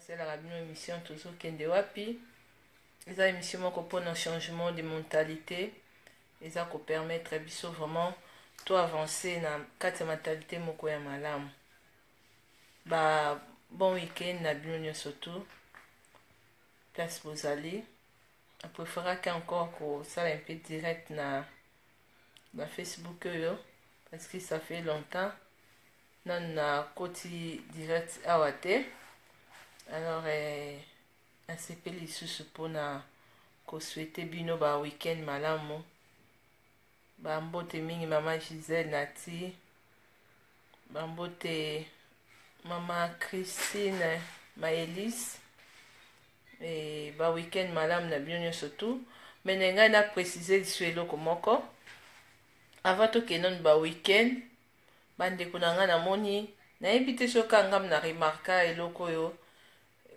basalaka bino émission tozokende wapi eza émission moko mpona changement de mentalité eza kopermettre biso vraiment to avancer na kati ya mentalité moko ya malamu ba bon week-end na bino nyonso tu place bozali apréféraki encore kosala un peu direct na na facebook oyo parce que ça fait longtemps nanu nakoti direct awa te alors eh, nasepeli lisusu mpona kosuete bino ba week-end malamu bambote mingi mama gisele nati bambote mama christine maelise e, ba week-end malamu na bino nyonso tu mene ngai na précise lisu eloko moko avant tokende nanu ba week-end Ba ndeko na nga na moni nayebi te soki kaka nga me na remarka eloko oyo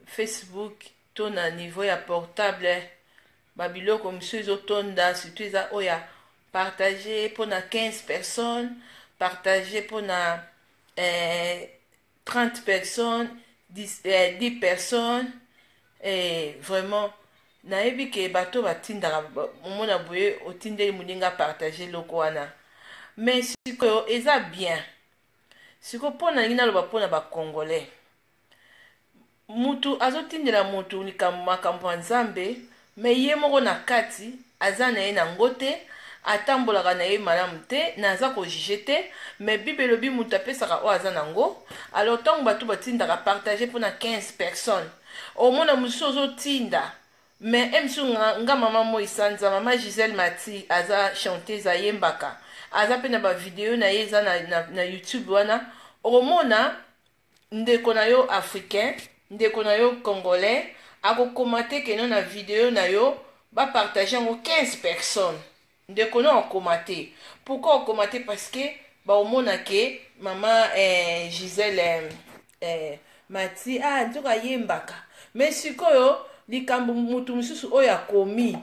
Facebook to na niveau ya portable ba biloko mosusu ezo tonda surtout eza oyo ya partage mpo na 15 personnes partage mpo na eh, 30 personnes 10, eh, 10 personnes eh, vraiment nayebi ke bato batindaka omona boye otindeli moninga apartage eloko wana mais sikoyo eza bien sikoyo mpo nalingi naloba mpo na bacongolais Mutu azotindela mutu likambo makambo ya nzambe mais ye moko na kati aza naye na ngo te atambolaka naye malamu te naza ko juge te mais bible elobi mutu apesaka oyo aza na ngo alors tangu batu batindaka partage pona 15 personnes omona mususu ozotinda mais emsu nga maman moyi sanza maman Gisèle Mathy aza chanteuse ayembaka aza pe na ba video naye eza na na youtube wana okomona Ndeko na yo africain, ndeko na yo congolais ako commater que no na video na yo ba partager yango 15 personnes ndeko no a commater pourquoi o commater parce que ba omona que maman eh, Gisèle eh, eh, Mati ah nzoka ayembaka mais sikoyo likambo mutu mosusu oyo akomi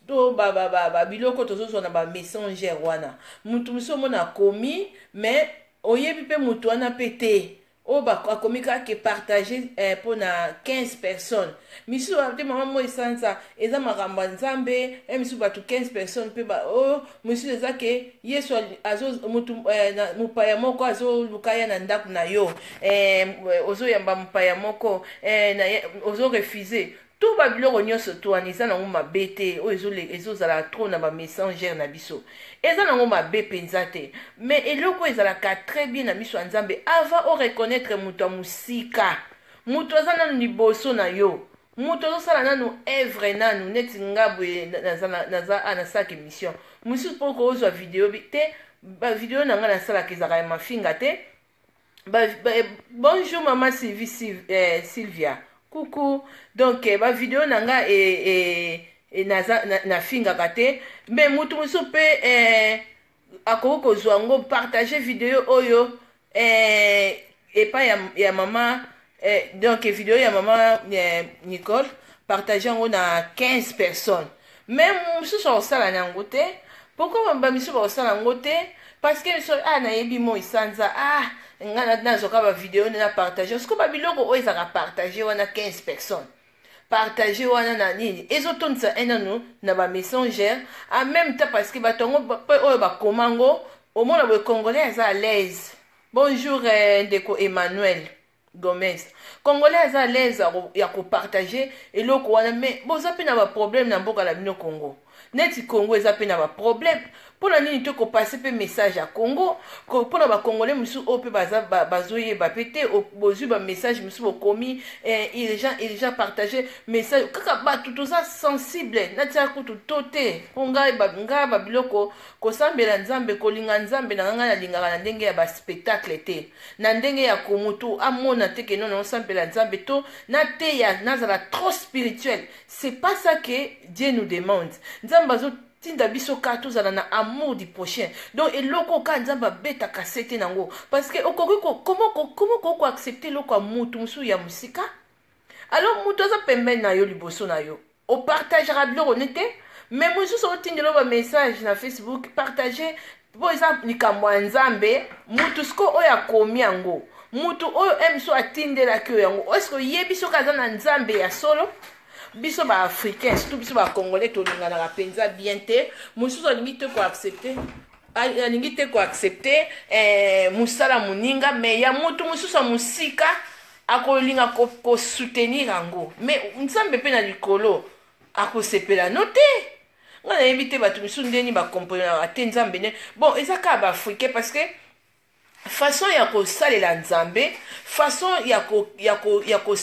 to ba, ba, ba, ba biloko tozozwa na ba messenger wana mutu mosusu omona akomi mais Oyebi pe mutu wana pe te. Oyo ba akomi kaka ke partage eh, pona 15 personnes. Misusu ba te maman moi sanza eza makambo ya Nzambe, eh misusu batu 15 personnes pe ba oh, misusu eza ke Yesu azo mutu eh, na, mupaya moko azo luka ya na ndaku na yo. Eh, ozo yamba mupaya moko eh, na, ozo refuser. tout ba biloko nyonso to wana eza nango mabe te oyo ezole- ezozala trop na ba messengers na biso eza nango mabe mpenza te mais eloko oyo ezalaka très bien na miso ya nzambe avant o reconnaître moto ya mosika moto aza nanu liboso na yo moto azosala nanu evre nanu neti nga boye na- naza na- naza a nasalaka émission mosusu mpo ozwa video bi- te bavideo na ngai nasalaka ezalaka ya mafinga te ba, ba, bonjour mama sylvie Syl, eh, sylvia kuku donc eh, bavideo na nga e, e, e, naza, na, nafingaka te me motu mosusu mpe eh, akoki kozwa yango partage video oyo eh, epai ya, ya mama Eh, donc video ya mama eh, nicole partage yango na 15 personnes mais mosusu akosala na yango te pourkoi bamisusu bakosala yango te parce que biso ah nayebi moi sanza ah ngai nazwaka bavideo nde na partage siko babiloko oyo ezalaka partage wana 15 personnes partage wana na nini ezotondisa enano na bamessengere en même temps parce que bato yango oyo bakoma yango omona boye congolais aza à l'aise Bonjour eh, ndeko Emmanuel Gomez. Congolais aza à l'aise ya ko- ya kopartage eloko wana mais boza mpe na baproblème na mboka na bino Congo. Neti Congo eza mpe na baproblème mpo na nini te kopase mpe message ya Congo ko- mpo na bacongolais mosusu oyo mpe baza ba- bazoyeba mpe te o- bozwi bamessage mosusu bokomi eh, urgent urgent partage message kaka bato toza sensible natia kutu to te mpo ngai ba- ngai babiloko Kosambela Nzambe, kolinga Nzambe nanga nga nalingaka na ndenge ya ba spectacle te, na ndenge ya ko mutu amona te ke non nazo sambela Nzambe to na teya nazala trop spirituel c'est pas ça que Dieu nous demande. Nzambe azo tinda biso ka tozala na amour du prochain donc eloko ka nzambe abetaka sete nango parce que okoki comment okoki koaccepte eloko ya mutu mosusu ya mosika alors mutu aza pembeni na yo liboso na yo opartagaka biloko ne te me mosusu otindelo bamessage na facebook partage mpo eza likambo ya nzambe mutu siko oyo akomi yango mutu oyo mso atindelaki oyo yango eske oyebi soki aza na nzambe ya solo biso baafricain surtout biso bacongolais tolinganaka mpenza bien te mosusu alingi te koaccepte alingi te koaccepte eh, mosala moninga me ya motu mosusu ya mosika akolinga ko, ko soutenir yango mais nzambe mpe na likolo akosepela no te nga nayebi te bato misusu ndeni bakomprenaka te nzambe nde bon eza kaka baafricain parce que façon ya kosalela nzambe façon ya kosepelisa ko, ya ko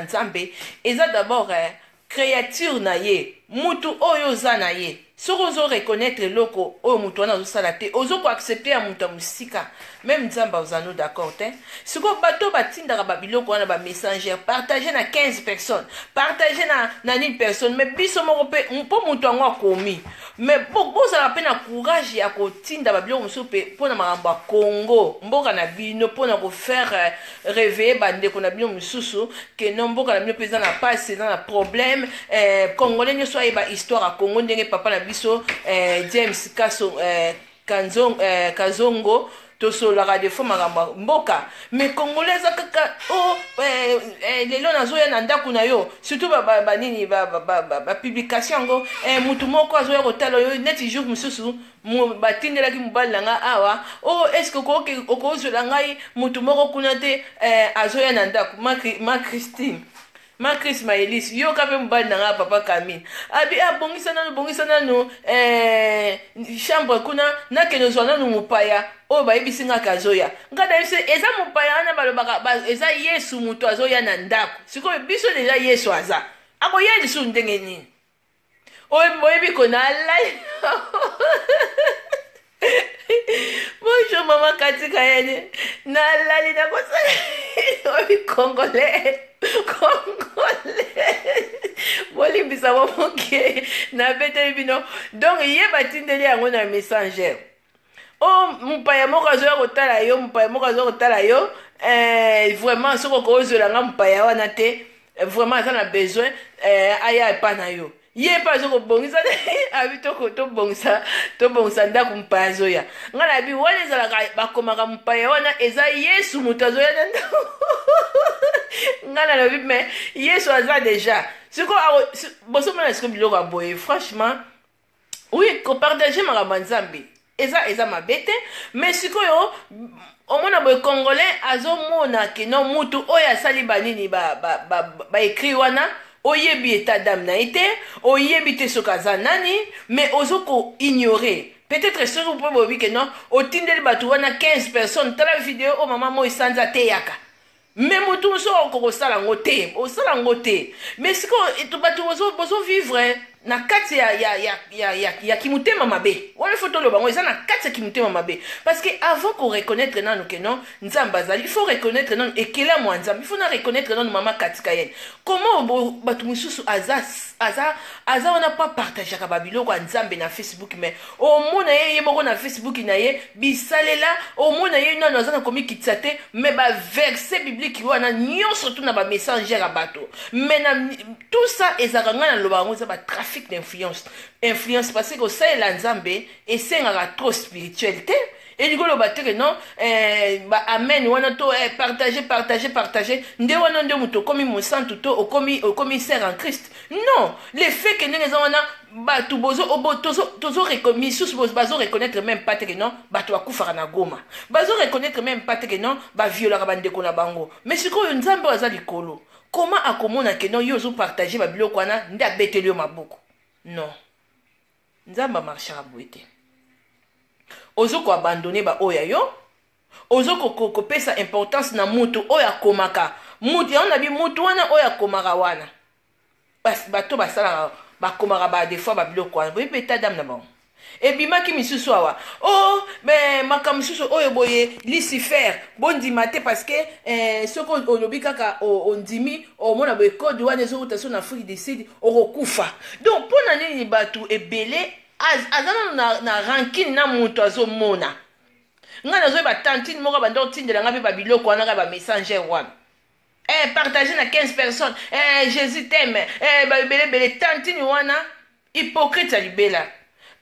nzambe eza d'abord eh, creature na ye mutu oyo oza na ye soki ozo reconnaitre eloko oyo mutu wana azo sala te ozo ko accepter ya mutu ya musika meme nzambe aza no d'accord te siko bato batindaka ba biloko wana ba messenger partager na 15 personnes partager na na nini personne mais biso moko pe mpo mutu yango akomi mais bozala pe na courage ya kotinda ba biloko mosusu pe mpo na makambo ya Congo mboka na bino mpo na ko faire reveiller ba ndeko na bino misusu que non mboka na bino pe eza na pasi eza na problème eh, congolais nyoso ayeba histoire ya congo ndenge papa na biso eh, james kaso eh, kanzong, eh, kazongo tosololaka defo makambo ya mboka mais congolais aza kaka o oh, eh, eh, lelo nazoya na ndako na yo surtout banini bapublication yango eh, motu moko azoya kotala yo neti jour mosusu batindelaki mobali na ngai awa o oh, eske okozwela ngai motu moko kuna te eh, azoya na ndako ma christine ma cris maelise yoka mpe mobali na ngai papa camille abi abongisa ah, nanu bongisa nanu eh, chambre kuna nakende ozwa nanu mopaya oyo bayebisi ngai ke azoya ngai nayebisi eza mopaya wana balobaka eza yesu moto azoya na ndako sikoyo biso deja yesu aza akoya lisusu ndenge nini oyebi ko nalai bonjour mama katika yene nalali nakosala oyebi congolais congolais bolimbisa bo moke nabeteli bino donc ye batindeli yango na messenger o oh, mopaya moko azoya kotala yo mopaya moko azoya kotala yo eh, vraiment soki okozwela nga mopaya wana te eh, vraiment aza na besoin eh, aya epa na yo ye mpe azo kobongisa te abi tobongisa tobongisa ndako mopaya azoya ngai nayebi wana ezalaka bakomaka mopaya wana eza yesu moto azoya na ndako ngai nalobi me yesu aza deja sikoyo bosomona sikoyo biloko ya boye franchement oui kopartage makambo ya nzambe eza eza mabe te mais sikoyo omona boye congolais azomona keno mutu oyo asali banini baekri ba, ba, ba, ba wana oyebi etat dame na ye te oyebi te soki aza nani mais ozo ko ignore peut-être soki mpe boyebi keno otindeli bato wana 15 personnes tala video oyo mama moi sanza ateyaka mais moto mosusu akoka kosala yango te osala yango te mais sikoyo bato bozovivre na kati ya, ya, ya, ya, ya, ya kimotema mabe wana ifo toloba yango eza na kati ya kimotema mabe parce que avant koreconnaitre nano ke non nzambe azali il faut reconnaitre nano ekelamu ya nzambe il faut na reconnaitre nano mama katika yene comment bato mosusu aza, aza, aza wana mpo apartageaka babiloko ya nzambe na facebook mais omona ye ye moko na facebook na ye bisalela omona ye nano aza na komikitisa te me baverse biblike wana nyonso tuna bamessangere ya bato me na tout ça ezalaka ngai naloba yango eza batrafic d'influence influence parce que osalela nzambe esengaka trop spirituel te elingi koloba te ke non eh, ba amen wana to eh, partage partage partage nde wana nde moto okomi mosantu to okomi, okomi ser en christ non le fait ke ndenge eza wana bato bozo obo tozo tozo misusu bazo reconnaître même pas teke non bato bakufaka na goma bazo reconnaître même pas teke non baviolaka bandeko na bango mais sikoyo nzambe oyo aza likolo comment akomona ke non yo ozopartage babiloko wana nde abeteli yo maboko non nzambe amarchaka boye te ozo koabandone baoyo ya yo ozo kopesa importance na moto oyo akomaka moto yango na bi moto wana oyo akomaka wana bato basalaka bakomaka ba des fois babiloko wana boyebi beta dame na bango ebimaki misusu awa o oh, me makambo mosusu oyo boye lucifer bondima te parce que eh, soki olobi kaka ondimi omona boye code wana ezowuta so na afrique du sud okokufa donc mpo na nini bato ebele aza nano na, na rankine na moto azomona ngai nazoyeba tantine moko abanda otindela ngai mpe babiloko wana kaka bamessanger wana eh, partage na 15 personnes eh, jésus teme eh, baebelebele tantini wana hypocrite ya libela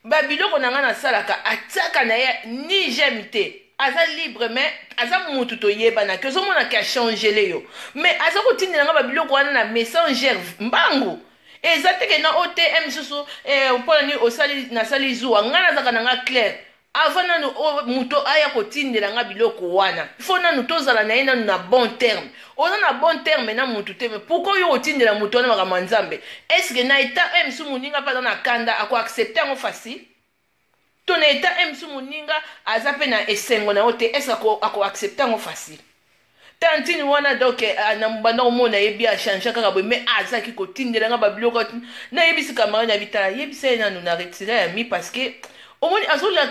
babiloko na ngai nasalaka atiaka na ye ni j'aime te aza libre me aza mutu toyebanaki ozomonaki achangele yo me aza kotindela ngai babiloko wana na messenger mbangu eza teke na otm susu eh, mpona nini osali nasali zuwa ngai nazalaka na ngai claire Avant nanu o moto aya ko tindela nga biloko wana il faut nanu to zala naye nanu na bon terme oza na bon terme na mutu te mais pourquoi oye ko tindela moto wana makambo ya nzambe est ce que na etat oyo mosusu moninga pe aza na kanda ako accepte yango facile to na etat oyo mosusu moninga aza pe na esengo na yo te est ce que ako accepte yango facile tantine wana donc ah, na banda komona ye bi achangea kaka boye mais azalaki kotindela nga babiloko nayebisi camarade na bitala yebisa ye nanu na retire ya mi parce que omoni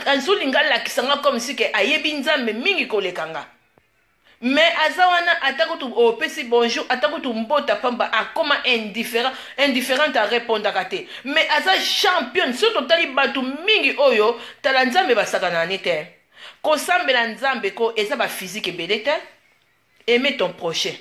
azolinga alakisa nga comme si ke ayebi nzambe mingi koleka nga mais aza wana ata kutu opesi bonjour ata kutu mbota pamba akoma indifférent indifférente arepondaka te mais aza championne soki totali bato mingi oyo tala nzambe basakanani te Kosambela nzambe ko eza ba physique ebele te aime ton prochain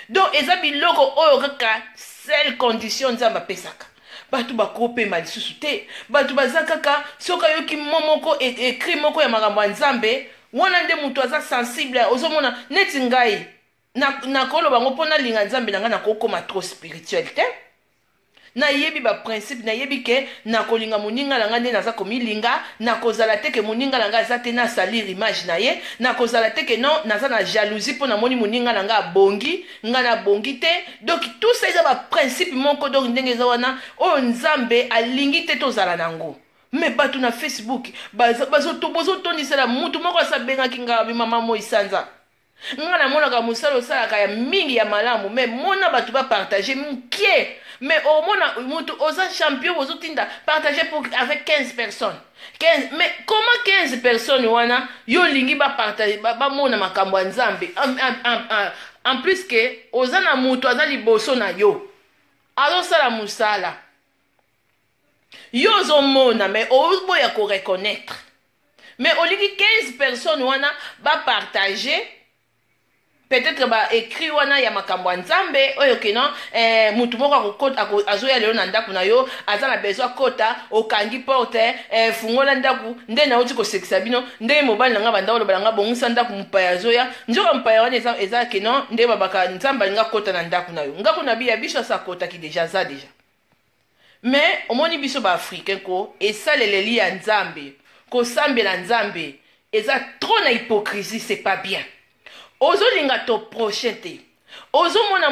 donc eza biloko oyo kaka seule condition nzambe apesaka bato bakopema lisusu te bato baza kaka soki ayoki mo moko ekri e, moko ya makambo ya nzambe wana nde moto aza sensible ozomona neti ngai na nakoloba yango mpo nalinga nzambe na ngai nakokoma trop spirituel te nayebi baprincipe nayebi ke nakolinga moninga na ngai nde naza komilinga nakozala te ke moninga na ngai aza te nasalir image na ye nakozala te ke non naza na jalousie mpo namoni moninga na ngai abongi ngai nabongi te donc tout ça eza baprincipe moko donc ndenge eza wana oyo nzambe alingi te tozala na yango me bato na facebook bozotondisela motu moko asabengaki ngai mama moi sanza Nga na monaka musala osalaka ya mingi ya malamu mais mona batu ba partage mukie mais omona mutu oza champion bozo tinda partage pour avec 15 personnes 15 mais comment 15 personnes wana yo lingi ba partage ba, ba mona makambo ya Nzambe en, en, en, en, en plus que oza na mutu aza liboso na yo azo sala musala Yo ozo mona mais ozo boya ko reconnaitre. Mais olingi 15 personnes wana ba partager peut-etre ba ecrit wana ya makambo ya Nzambe oyo que non eh, mutu moko akokota ako, azoya lelo na ndaku na yo aza na besoin akota okangi porte eh, fungola ndaku nde nauti kosekisa bino ndenge mobali na ngai banda oloba na ngai bongisa ndaku mopaya azoya nzoka mopaya wana eza, eza que non nde babaka Nzambe alinga kota na ndaku na yo ngaku na biya biso asa akotaki deja aza deja Mais omoni biso ba africain ko esaleleli ya nzambe kosambela nzambe eza trop na hypocrisie c'est pas bien ozolinga to prochain te ozomona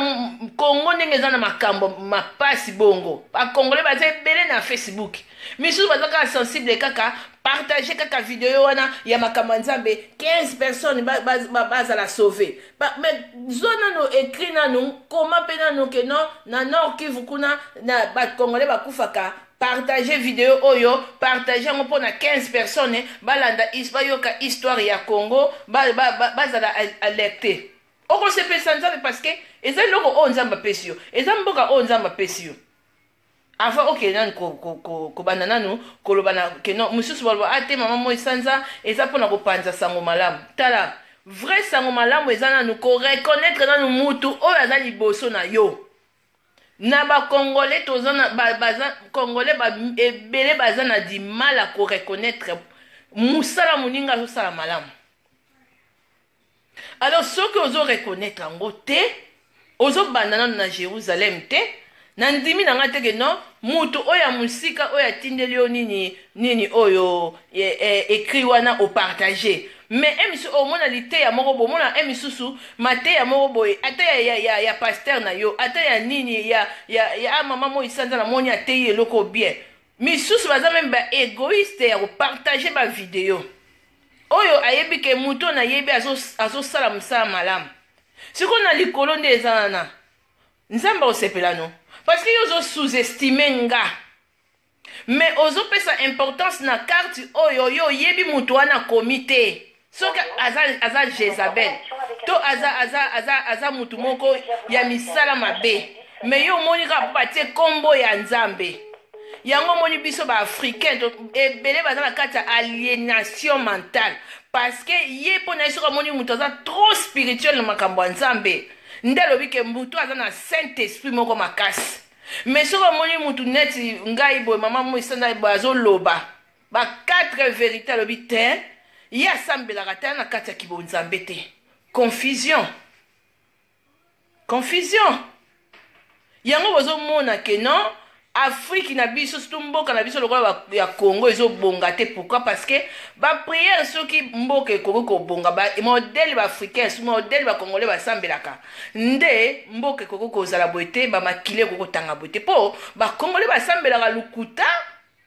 congo ndenge eza na makambo mapasi bongo bacongolais baza ebele na facebook misusu baza kaka sensible kaka partage kaka video wana ya makambo ya nzambe 15 personnes bazala ba, ba, ba sauve Ba, mais zwa nano écrit nano koma mpe nano ke non na nord kivu kuna na bacongolais bakufaka partage video oyo partage yango mpo na 15 personnes balanda is bayoka histoire ya congo bazala ba, ba, bazala alerté okosepelisa nzambe parce que eza eloko oyo nzambe apesi yo eza mboka oyo nzambe apesi yo avant okende nanu kobanda ko, ko, nanu koloba na ke non mosusu baloba ah te mama moi sanza eza mpona kopanza sango malamu tala vrai sango malamu eza nanu koreconnaitre nanu mutu oyo aza liboso na yo na bakongole toza na baza kongole ba, ebele baza na dimal ya koreconnaitre mosala moninga azosala malamu Alors soki ozo reconnaitre yango te, ozo banda nanu na Jerusalem te, na ndimi na nga te que non mutu oyo ya musika oyo atindeli yo nini nini oyo e, e, ecrit wana o partager mais e misusu omona liteya moko bomona e misusu mateya moko boye ata ya, ya, ya, ya pasteur na yo ata ya nini ya, ya, ya ah, mama moi sanza na moni ateyi eloko bien misusu baza meme ba egoiste ya kopartage ba video oyo ayebi ke moto oyo nayebi azosala azo mosala malamu siko na likolo nde eza wana nzambe akosepela no parce que yo ozo sous-estime nga mais ozopesa importance na carte oyo yo oyebi moto wana akomi te soki aza, aza jezabel to aza, aza, aza, aza moto moko ya misala mabe me yo omoni kaka mpo batie nkombo ya nzambe yango omoni biso ba africain ebele baza na kati ya alienation mentale parce que ye mpo na ye soki amoni moto aza trop spirituel na makambo ya nzambe nde alobi ke mbutu aza na saint esprit moko makasi mais soki amoni motu neti ngai boye mama mo esanda boye azoloba ba quatre verité alobi te ye asambelaka te na kati ya kibonzambe te confusion confusion yango bozomona ke non afriki na biso surtout mboka na biso lokola ya congo ezobonga te pourquoi parce que bapriere soki mboka ekoki kobonga modele baafricain su modele bacongolais basambelaka nde mboka ekoki kozala boye te bamakili ekoki kotanga boye te mpo bacongolais basambelaka lokuta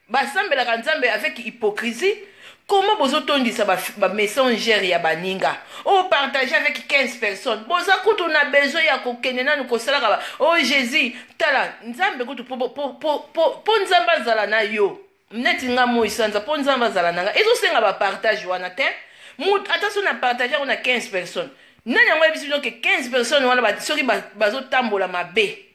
Basambelaka nzambe avec hypocrisie comment bozo tondisa ba, ba messenger ya baninga o partage avec 15 personnes boza kutu na besoin ya kokende nanu kosalaka ba o oh, jésus tala nzambe kutu po, po, po, po, po, po nzambe azala na yo neti nga moi sanza po nzambe azala na nga ezosenga bapartage wana te ata so na partage yango na 15 personnes nani yango yebisi bino ke 15 personnes wana soki bazotambola ba mabe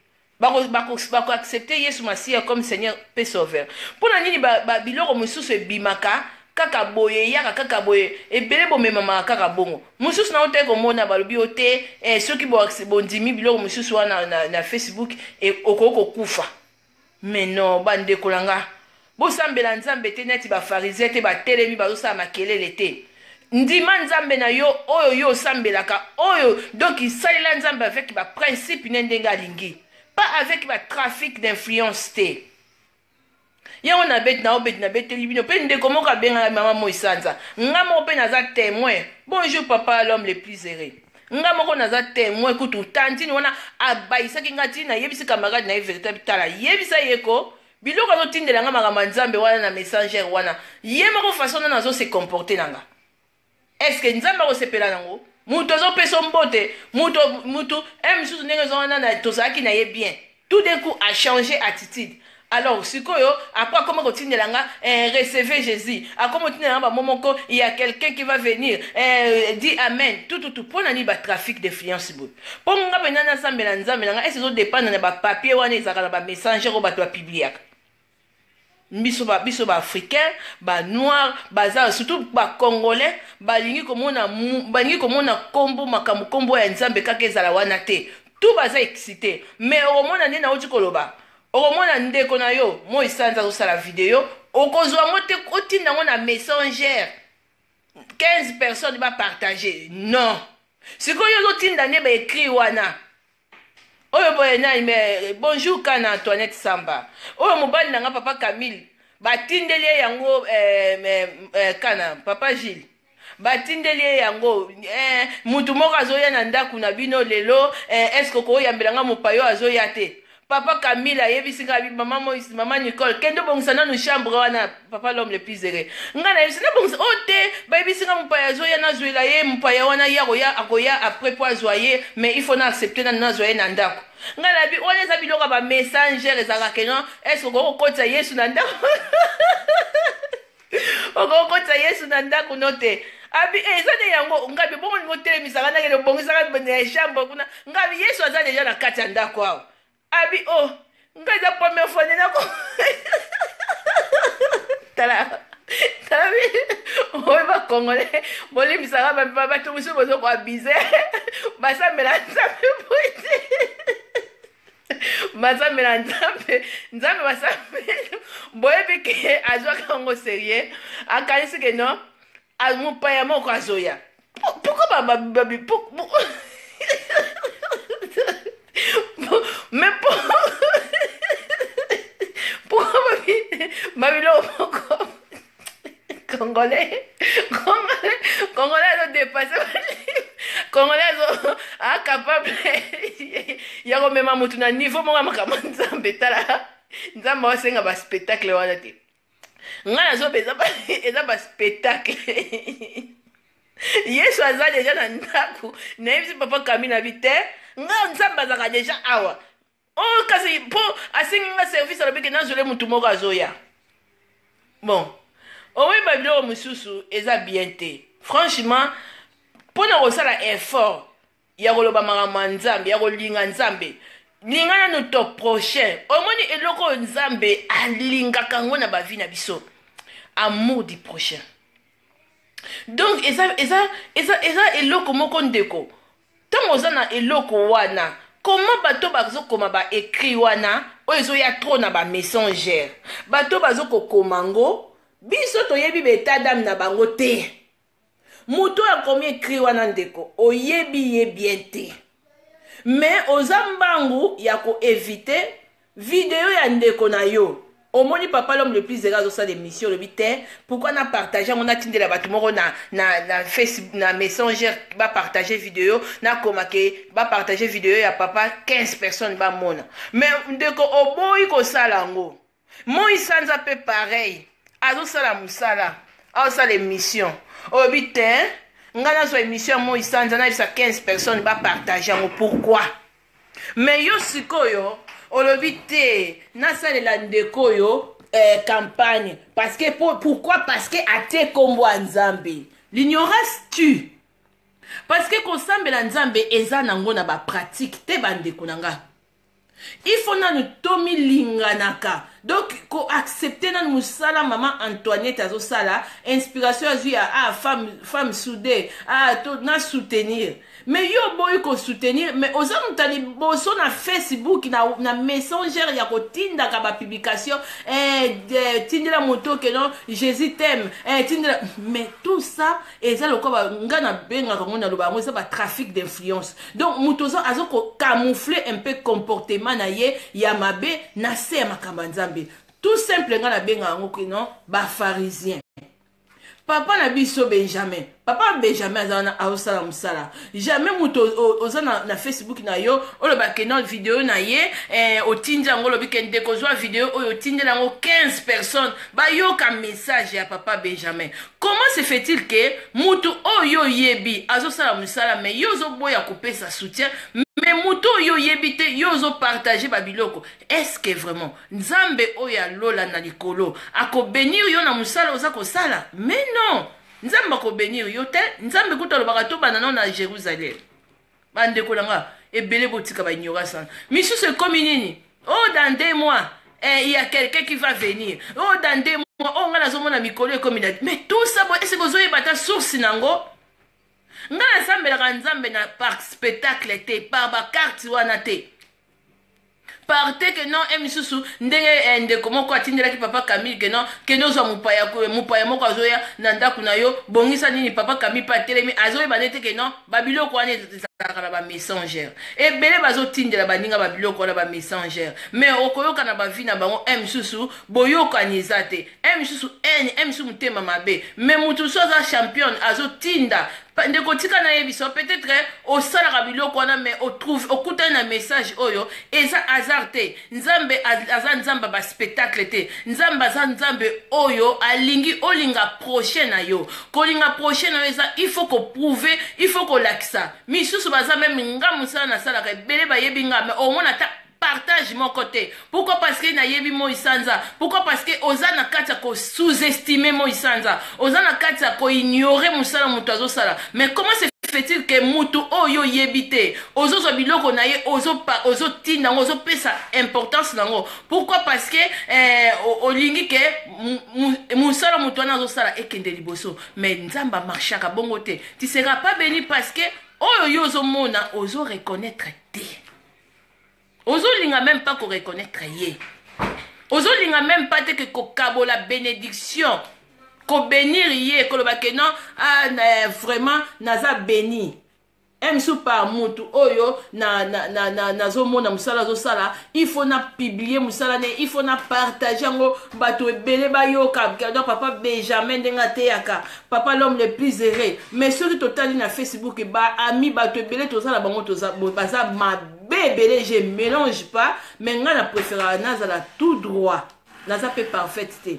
bako bako bako accepter Yesu Masiya comme Seigneur pe Sauveur. Pona nini ba, ba biloko mosusu ebimaka kaka boye eyaka kaka boye ebele bomemamaka kaka bongo mosusu na otaki komona balobi yo te eh, soki bondimi biloko mosusu wana na, na, na facebook eh, okoki kokufa mais non bandeko na nga Bosambela Nzambe te neti ba pharisien te batelemi bazosala makelele te ndima Nzambe na yo oyo yo osambelaka oyo donc salela Nzambe avec ba principe ne ndenge alingi pas avec ba trafic d'influence te yango na beti na obeti na beteli bino mpe ndeko moko abengana mama moi sanza nga moko mpe naza temoin bonjour papa l'homme le plus heureux nga moko naza temoin kutu tantine wana abayisaki nga ti nayebisi camarade na ye véritable tala yebisa ye ko Biloko azo tindela nga makambo ya Nzambe wana na messenger wana. Ye moko façon nana azo se comporter na nga. Est-ce que Nzambe ako sepela na ngo? Mutu azo peso mbote, mutu mutu un misusu ndenge zo wana na tozalaki na ye bien. Tout d'un coup a changer attitude. Alors sikoyo après akoma ko tindela nga eh, recevez Jésus. Akoma tindela nga ba mots moko il y a quelqu'un qui va venir. Eh, dit amen. Tout tout tout pona ni ba trafic d'influence boye. Po nga pena na sambela nzambe na nga est ezo dependre na ba papier wana ezalaka na ba messenger oyo bato ba publiaka biso ba biso ba africain ba noir baza surtout ba congolais balingi komona balingi komona kombo makambo kombo ya nzambe kaka ezala wana te tout baza excité mais okomona nde nauti koloba okomona ndeko na yo moi sanza azosala video okozwa yango te otinda yango na messenger 15 personnes ba partager non sikoyo ozotinda nde ba écrit wana oyo boye nani me eh, bonjour kana antoinette samba oyo mobali na nga papa camille batindeli ye yango eh, eh, eh, kana papa gile batindeli ye yango eh, motu moko azoya na ndako na bino lelo eh, eske okoyambela nga mopayo azoya te Papa Camille ayebisi nga bi maman Moïse, maman Nicole, kende obongisa nanu chambre wana papa l'homme le plus heureux. Nga na yebisi na bongisa oh te, ba yebisi nga mupaya azoya na zuela ye mupaya wana ye akoya akoya après po azwa ye mais il faut na accepter nanu nazwa ye na ndako. Nga na bi wana eza biloko ya ba messenger ezalaka que non est ce que okoki kokotisa Yesu na ndako? okokotisa yesu na ndako no te abi eh, eza nde yango ngabi bongo lingo telemisaka ndenge obongisaka na chambre kuna ngabi yesu aza deja na kati ya ndako awa abi o oh, ngai eza première fois nde nako tala tala bi oyo bakongole bolimbisaka bamema bato mosusu bozokoabize basambela nzambe boye te basambela nzambe nzambe basambela boyebi ke azwaka yango serieux akanisi ke non a- mopaya moko azoya Po- poko ba- ba- ba- bi- po- po- Po- mais po poko babi babiloko moko congolais congolais congolais azo dépasse congolais azo acapable ya komema motu na niveau moko ya makambo nzambe tala nzambe aosenga baspectacle wana te ngai nazoba eza baspectacle yesu aza deja na ndako nayebisi papa kami na bi te ngai nzambe azalaka deja awa oh kasi mpo asengi nga service alobi ke nazwele motu moko azoya bon oweyi babiloko mosusu eza bien te franchement mpo na kosala effort ya koloba makambo ya nzambe ya kolinga nzambe linga nanu to prochain omoni eloko oyo nzambe alingaka yango na bavi na biso amour du prochain donc eza, eza, eza, eza eloko moko ndeko Tango oza na eloko wana comment bato bazo koma ba ecrit wana oyo ezo ya trop na ba messenger bato bazo ko koma ngo biso toyebi ba etat dame na bango te moto oyo akomi ecrit wana ndeko oyebi ye bien te mais oza mbangu ya ko eviter Video ya ndeko na yo omoni papa l'homme le plus zela azosala émission olobi te pourquoi na partage yango natindela bato moko na, na, na, face, na messenger bapartage video nakoma ke bapartage video ya papa 15 personnes bamona me ndeko oboyi kosala yango moi sanza mpe pareil azosala mosala azosala émission olobi te ngai nazwa émission ya moi sanza nayebisa 15 personnes bapartage yango pourquoi Mais yo sikoyo olobi te nasalela ndeko oyo eh, campagne parce que pour, pourquoi parce que atie kombo ya nzambe l'ignorance tue parce que kosambela nzambe eza nango na bapratique te bandeko na nga il faut nanu tomilinganaka donc koaccepte nanu mosala mama antoinette azosala inspiration azwi ya ah, femme, femme soude ah, to, na soutenir mais yo oboyi ko soutenir mais oza moto ya liboso na facebook na, na messenger ya kotindaka ba publication eh, de, tindela moto ke non jésus teme eh, tindela mais tout ça eza lokola nga nabengaka yango naloba yango eza ba trafic d'influence donc moto oza aza kocamoufle un peu comportement na ye ya mabe na se ya makambo ya nzambe tout simple nga nabenga yango ke non bafarisien papa na biso benjamin papa benjamin aza wana aosala mosala jamais moto oza na, na facebook na yo oloba ke na video na ye eh, otindi yango olobi ke ndeko ozwa video oyo otindeli yango 15 personnes bayoka message ya papa benjamin comment se fait-il ke moto oyo oyebi azosala mosala me yo ozoboya kopesa soutien me moto oyo oyebi te yo ozopartage babiloko est ce que vraiment Nzambe oyo ya lola na likolo ako benir yo na musala oza kosala mais non nzambe ako benir yo te nzambe kutu alobaka tobanda nao na Jerusalem bandeko na nga ebele botika ba ignorance wana misusu ekomi nini oh dans deux mois eh, il y a quelqu'un qui va venir oh dans deux mois oh nga nazomona mikolo ekomi na mais tout ça bo ese bozoyeba ata source nango nga nasambelaka nzambe na par spectacle te par bacarte wana te parte que non e misusu ndenge eh, ndeko moko atindelaki papa camille que non kende ozwa mopaya mopaya moko azoya na ndako na yo bongisa nini papa camille mpe atelemi azoyeba nde te que non babiloko wana ezalaka na bamessengere ebele bazotindela baninga babiloko wana bamessengere mais okoyoka na bavi na bango e misusu boyokani eza te e misusu ene e misusu motema mabe mais moto mosusu aza championne azotinda ndeko tika nayebisa yo peut-être eh, osalaka biloko wana mais otrouve okutani na message oyo eza hasard te nzambe aza nzambe ya baspectacle te nzambe aza nzambe oyo alingi olinga prochain na yo kolinga prochain na yo eza il faut koprouve il faut kolakisa misusu baza meme nga mosala nasalaka ebele bayebi nga mais omona ata partage moko te pourquoi parce que nayebi moi sanza pourquoi parce que oza na kati ya ko sous estime moi sanza oza na kati ya ko ignore mosala moto azosala mais comment se fait-il que mutu oyo oyebi te ozozwa biloko na ye ozotinda yango ozopesa importance na yango pourquoi parce que eh, olingi ke mosala moto wana azosala ekende liboso mais nzambe amarchaka bongo te tisera pas beni parce que oyo yo ozomona ozoreconnaitre te ozolinga meme pas koreconnaitre ye ozolinga meme pas te ke kokabola benediction kobenir ye koloba ke non ah, na, vraiment naza beni msu par mutu oyo nazomona na, na, na, na mosala azosala il faut na publie mosala ne il faut na partage yango bato ebele bayoka donc papa benjamin ndenge ateyaka papa l'homme le plus heureux mais soki totali na facebook baami bato ebele toza na bango baza mabe ebele je mélange pas mais ngai na préféraka nazala tout droit naza mpe parfaite te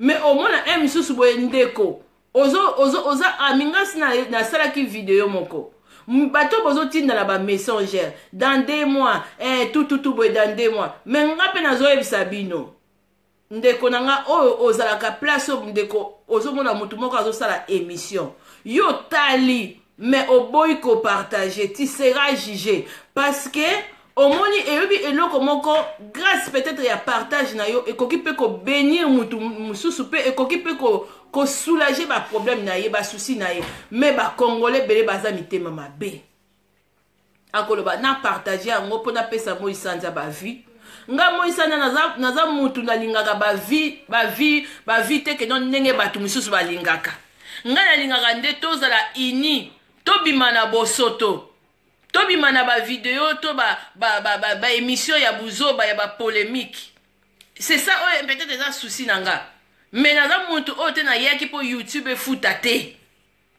mais omona un mosusu boye ndeko ozo, ozo, oza ami ngasi nasalaki na video moko bato bozotindana bamessengere dans de mois eh, tututu boye dans de mois mais nga mpe nazoyebisa bino ndeko na nga oyo ozalaka place oyo ndeko ozomona motu moko azosala émission yo otali mais oboyi kopartage ti sera juge parce que omoni eyobi eloko moko grâce peut-être ya partage na yo ekoki mpe kobenir motu mosusu mpe ekoki mpe ko, kosoulage baproblème na ye basusi na ye mais bacongolais ebele baza mitema mabe akoloba na partage yango mpo napesa moi sanza bavie nga moi sanza naza, naza mutu nalingaka bavie bavie bavie te keno ndenge bato mosusu balingaka nga nalingaka nde tozala ini tobima na bosoto tobima na bavideo to baémission ba, ba, ba, ya buzoba ya bapolémique c'est ça oyo peut-être eza souci na nga mais naza mutu oyo te nayaki mpo youtube efuta te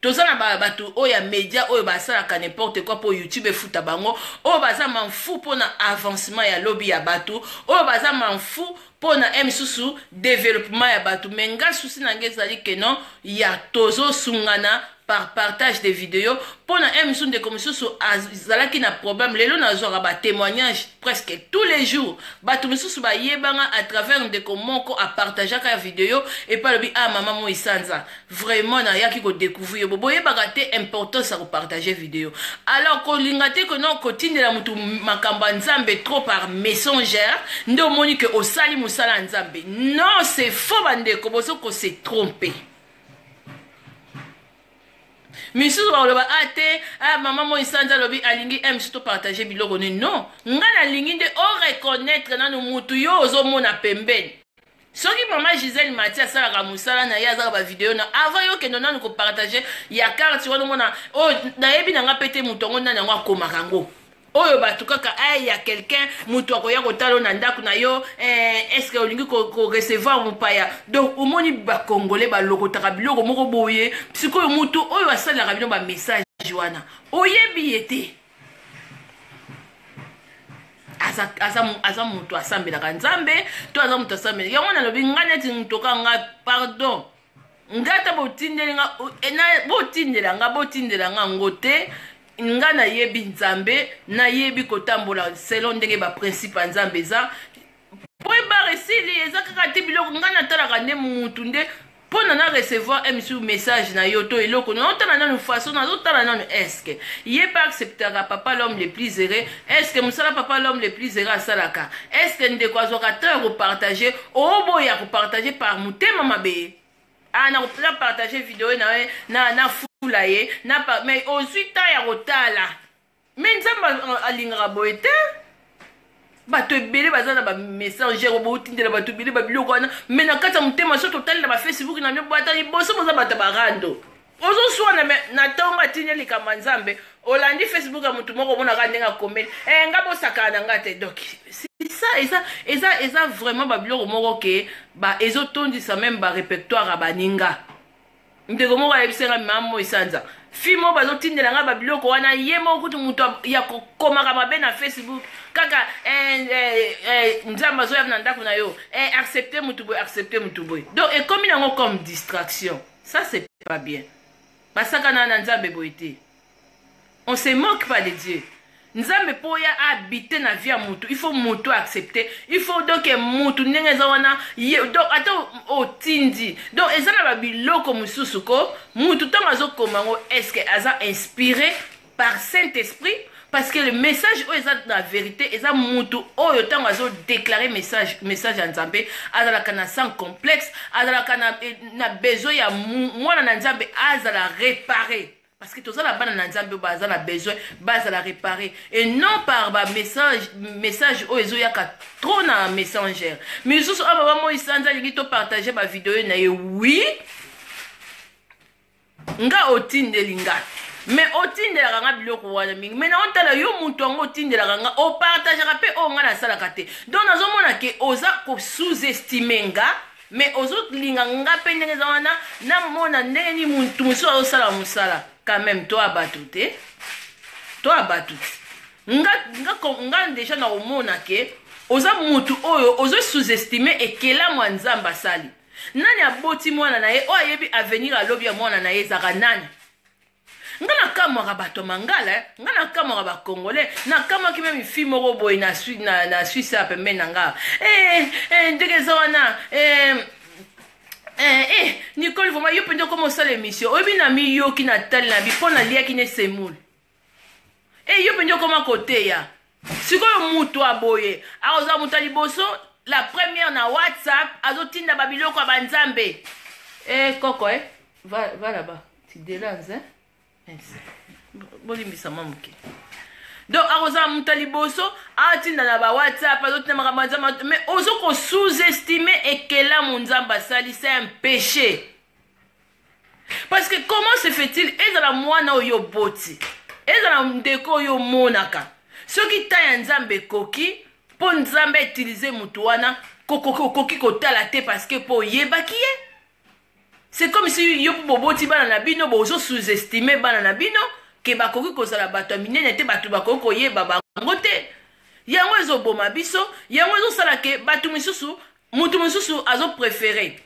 toza na bato oyo ya media oyo basalaka n'importe quoi mpo youtube efuta bango oyo baza manfu mpo na avancement ya lobi ya bato oyo baza manfu mpo na e misusu developpement ya bato me nga susi na nga ezali kenon ya tozosungana par partage de video mpo na e misusu ndeko mosusu azalaki na problème lelo nazwaka batémoignage presque tous les jours bato mosusu bayebanga à travers ndeko moko apartageaka video epai alobi a ah, mama moi sanza Vraiment na yaki ko découvrir yo boyebaka te importance ya ko partager vidéo. Alors ko linga te que non ko tindela mutu makambo ya Nzambe trop par messenger nde omoni que osali musala ya Nzambe. Non, c'est faux bandeko bozo ko se tromper. misusu bakoloba a ah, te a ah, mama moi sanza alobi alingi m surtout partage biloko nini non ngai nalingi nde oreconnaitre nanu mutu yo ozomona pembeni soki mama gisele mati asalaka mosala na ye azaka bavideo na avant yo kendo nanu kopartage ya karte wana omona oyo oh, nayebi na nga mpe te moto yango nani yango akomaka yango oyo bato kaka ai ya quelqu'un moto akoya kotala na ndako na yo eh, estce olingi korecevoir ko mopaya donc omoni bakongole balokotaka biloko moko boye sikoyo moto oyo asalelaka bino bamessage wana oyebi ye te aza moto asambelaka nzambe to aza moto asambelaka yango nalobi ngai neti ntoka ngai pardon nga ata botindeli nga eh, botindela nga botindela nga ngo te nga nayebi nzambe nayebi kotambola selon ndenge baprincipe ya nzambe eza point bar esili eza kaka te biloko ngai natalaka nde mutu nde mpo na na recevoir msu message na yo to eloko naotala nanu façon nazotala nanu eske ye mpe acceptaka papa l'homme le plus heureux eske mosala papa l'homme le plus heureux asalaka eske ndeko azwaka temps ya kopartage oboya kopartage par motema mabe ah, na partage video na ye na na fula ye na mais ozwi temps ya kotala Mais Nzambe alingaka boye te. bato ebele baza na bamessager oyo boutindela bato ebele babiloko wana me na kati ya motema so totali na bafacebook na bino bata liboso boza bato ya barando ozoswana me na ntongo atindi likambo ya nzambe olandi facebook ya motu moko omonaka ndenge akomeli e eh, nga bosakana na nga te donc eza eza eza eza vraiment babiloko moko ke ezotondisa meme barepertoire ya baninga ndeko moko ayebisi ngai mama moi sanza fi moko bazotindela ngai babiloko wana ye moko kutu moto ya kokomaka mabe na facebook kaka eh, eh, eh, nzambe azoya na ndako na yo accepte motu boye accepte motu boye donc ekomi nango comme distraction ça c'est pas bien basakana na nzambe boye te On se moque pas de Dieu. nzambe mpo ya abite na vie ya motu il faut motu accepte il faut donc motu ndenge eza wana donc ata otindi donc eza na babiloko mosusu ko motu ntango azokoma yango estce aza inspiré par saint esprit parce que le message oyo eza na vérité eza mutu oyo ntango azodeklare message message ya nzambe azalaka na sans complexe azalaka na, eh, na besoin ya mwana na nzambe azala repare parce que toza na bana na nzambe oyo baza na besoin bazala réparé et non par bamessage message oyo ezoyaka trop na messenger misusu oyo baba moi sanza alingi topartage bavideo na ye wi nga otindeli nga me otindelaka nga biloko wana mingi me naotala yo moto yango otindelaka nga opartageaka mpe oyo nga nasalaka te donc nazomona ke oza kosous-estime nga mais ozo linga nga pe ndenge eza wana na mona ndenge ni muntu mususu azo sala musala quand même to abatu te to abatu nga nga nga deja na omona ke oza mutu oyo ozo sous-estimer ekelamu ya nzambe asali nani aboti mwana na ye oyo ayebi avenir alobi ya mwana na ye ezaka nani nga nakamwaka bato ya mangala eh. nga nakamwaka bacongolais nakamwaki meme fi moko boye na, na, na swisse ya pembeni na nga eh, eh, ndenge eza wana eh, eh, eh, nicole vraimen yo mpenza okoma osala émission oyebi na miyoki na tali na bi mpo naliaki ne semoule e eh, yo mpenza okoma koteya sikoyo mutu aboye akozala mutu ya liboso la première na whatsapp azotinda babiloko ya banzambe e eh, koko e eh? va, va là-bas tidelans hein? yes. bolimbisa mwa moke donc akozala moto ya liboso atinda na bawhatsapp azotinda makambo ya nzambe mais ozo kosous-estime ekelamu nzambe asali se un péché parce que comment se fait-il ezala mwana oyo oboti ezala ndeko oyo omonaka soki ntan ya nzambe ekoki mpo nzambe autilize moto wana okoki kotala te parce que mpo oyebaki ye c'est comme si yo mpo boboti bana na bino bozo sous-estime bana na bino ke bakoki kozala bato ya minene te bato bakoki koyeba bango te yango ezoboma biso yango ezosala ke bato mosusu moto mosusu azoprefere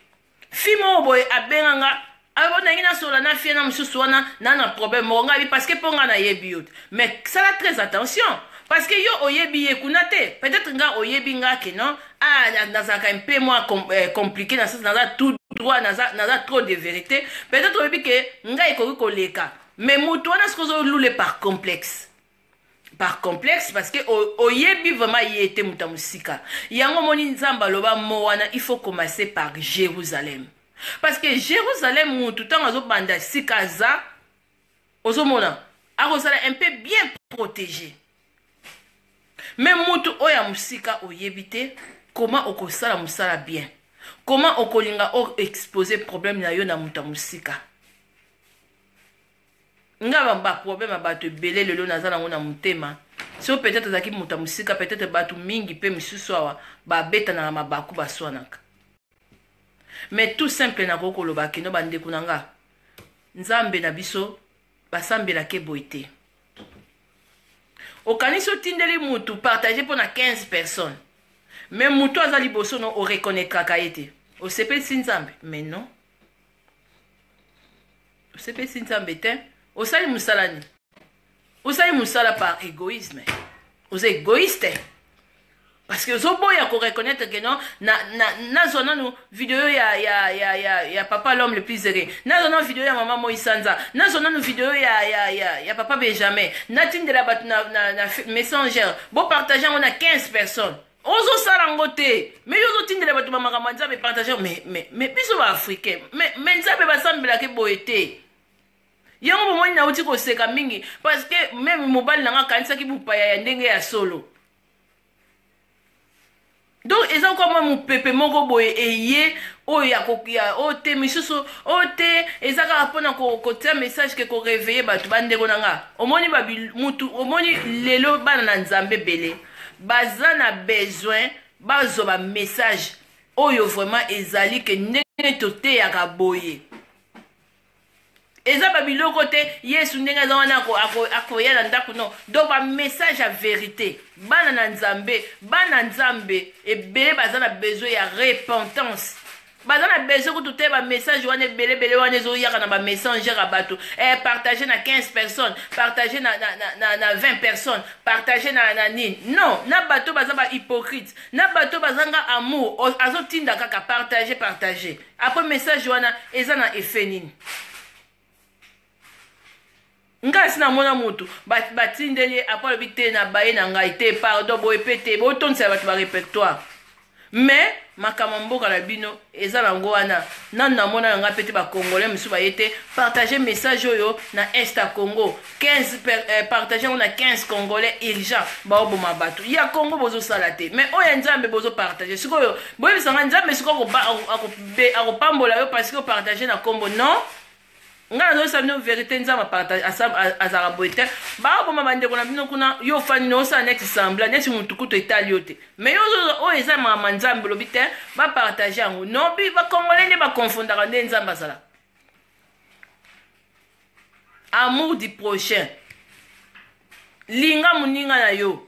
fille moko boye abenga nga abo nangi nasola na fie na mosusu wana na na problème moko ngai parce que mpo ngai nayebi yo te mais sala très attention parce que yo oyebi ye kuna te peut-être nga oyebi nga ke non ah nazalaka un peu moins com, eh, compliqué na sens naza tout droit naza, naza trop de vérité peut-être oyebi ke ngai ekoki koleka mais moto wana soki ozolule par complexe par complexe parce que oyebi vraiment ye te moto ya mosika yango omoni nzambe aloba mo wana il faut commencer par jérusalem parce que jérusalem motu ntango azobanda sika aza ozomona akozala un peu bien protégé me motu oyo ya mosika oyebi te koma okosala mosala bien koma okolinga o expose problème na yo na moto ya mosika nga ba problème ya bato ebele lelo naza nango na motema so peut-être azalaki moto ya mosika peut-être bato mingi mpe misusu awa babetanaka mabaku baswanaka mais tout simple nakoki koloba keno bandeko na nga nzambe na biso basambelaka eboye te okanisi otindeli motu partage mpo na 15 personnes mais motu aza liboso no oreconnaitraka ye te osepelisi nzambe mais non osepesi nzambe te osali mosala nini osali mosala par égoïsme oza égoïste parce que ozoboya koreconnaitre ke non nazwa nanu video ya, ya, ya, ya, ya papa l'homme le plus ere nazwa nanu video ya mama moi sanza nazwa nanu video ya, ya, ya, ya papa benjamin natindela bato na, na, na messenger bopartage yango na 15 personnes ozo sala ngo te mais yo ozotindela bato ba makambo ya nzambe partage mais mais mais biso ba africain mais mais nzambe basambelake boye te yango bomoni nauti koseka mingi parce que meme mobali na nga akanisaki bopaya ya ndenge ya solo donc eza kwa mwa mopepe moko boye eye oyo ya koya oyo te misusu oyo te eza kaka mpona kotia ko message ke koreveille bato bandeko na nga omoni mutu omoni lelo bana na nzambe ebele baza na besoin bazwa ba message oyo vraiment ezali ke ndenge toteyaka boye eza babiloko te yesu ndenge aza wana akoya na ndako no donc bamessage ya verité bana na nzambe bana nzambe ebele baza na besoin ya repentance baza na besoin kutu te ba message wana ebele ebele wana ezoyaka na ba messenger ya bato eh, partage na 15 personnes partage na, na, na, na, na 20 personnes partage na, na nini non na bato baza ba hypocrite na bato bazanga amour azotinda kaka partage partage apres message wana eza na effet nini ngai asi namona motu batindeli ye apo alobi te na baye na ngai te pardon boye mpe te botondisela bato ba répertoire mais makambo mboka na bino eza nango wana nanu namona na ngai mpe te bacongolais mosusu baye te partage message oyo na est ya congo 15 per, eh, partage yango na 15 congolais urgent baoboma bato ya congo bozosala te mais oyo ya nzambe bozopartage sikoyo boyebisa ngai nzambe sikoyo akopambola yo parce que opartage na nkombo non ngai nazoyesa bino verité nzambe apartage azalaka boye te baoboma bandeko na bino kuna yo ofandi na osala neti sembla neti motu kutu etali yo te mais yo oyo eza mama nzambe olobi te bapartage yango nobi bakongole nde bakonfondaka nde nzambe azalaka amour du prochain linga moninga na yo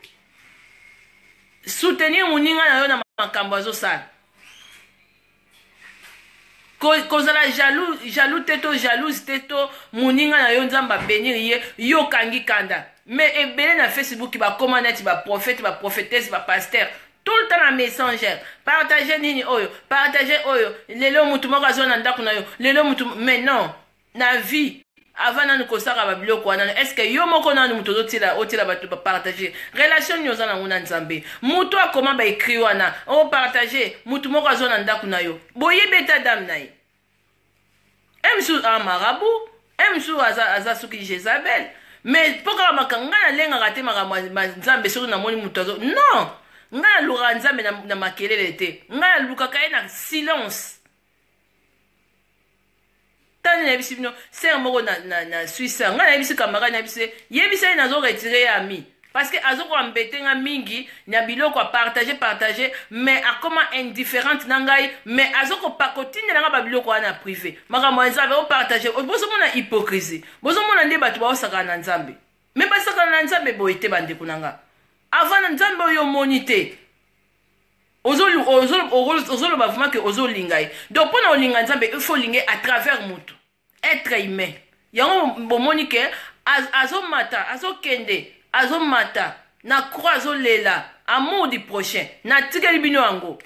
soutenir moninga na yo na makambo azosala kozala ko jaloux, jaloux te to jalouse te to moninga na yo nzambe abenir ye yo okangi kanda me ebele na facebook bakoma neti baprofete baprofetese bapaster tout le temps na messenger partage nini oyo partage oyo lelo mutu moko azwa na ndako na yo lelo mutu mais non na vie avant nanu kosaka babiloko wana est ce que yo moko nanu moto ozotila otila bato bapartage relation nini oza nango na nzambe moto akoma baekri wana opartage moto moko azwa na ndako na yo boyebi eta dame na ye un jour a marabu un jour aza, aza soki jezabel mais mpo kaka maka ngai nalengaka te makambo ya nzambe soki namoni moto azo non ngai nalukaka nzambe na, na makelele te ngai nalukaka ye na silence tani nayebisi bino sere moko na, na, na swisse ngai nayebisi camarade nayebisi yebisa ye nazo retire ye ami Parce que azo ko embete nga mingi na biloko a partager partager mais akoma indifferente na ngai mais azo ko pa ko tindela nga ba biloko wana na privé makambo ya nzambe o partager bozo mona hypocrisie bozo mona nde bato baosakana na nzambe mais basakana na nzambe boye te bandeko na nga avant na nzambe oyo omoni te ozoloba vraimen ke ozolinga ye donc mpo na olinga nzambe il faut olinga ye à travers motu etre humain yango bomoni ke azomata azokende azomata na croix azolela amour du prochain natikeli bino yango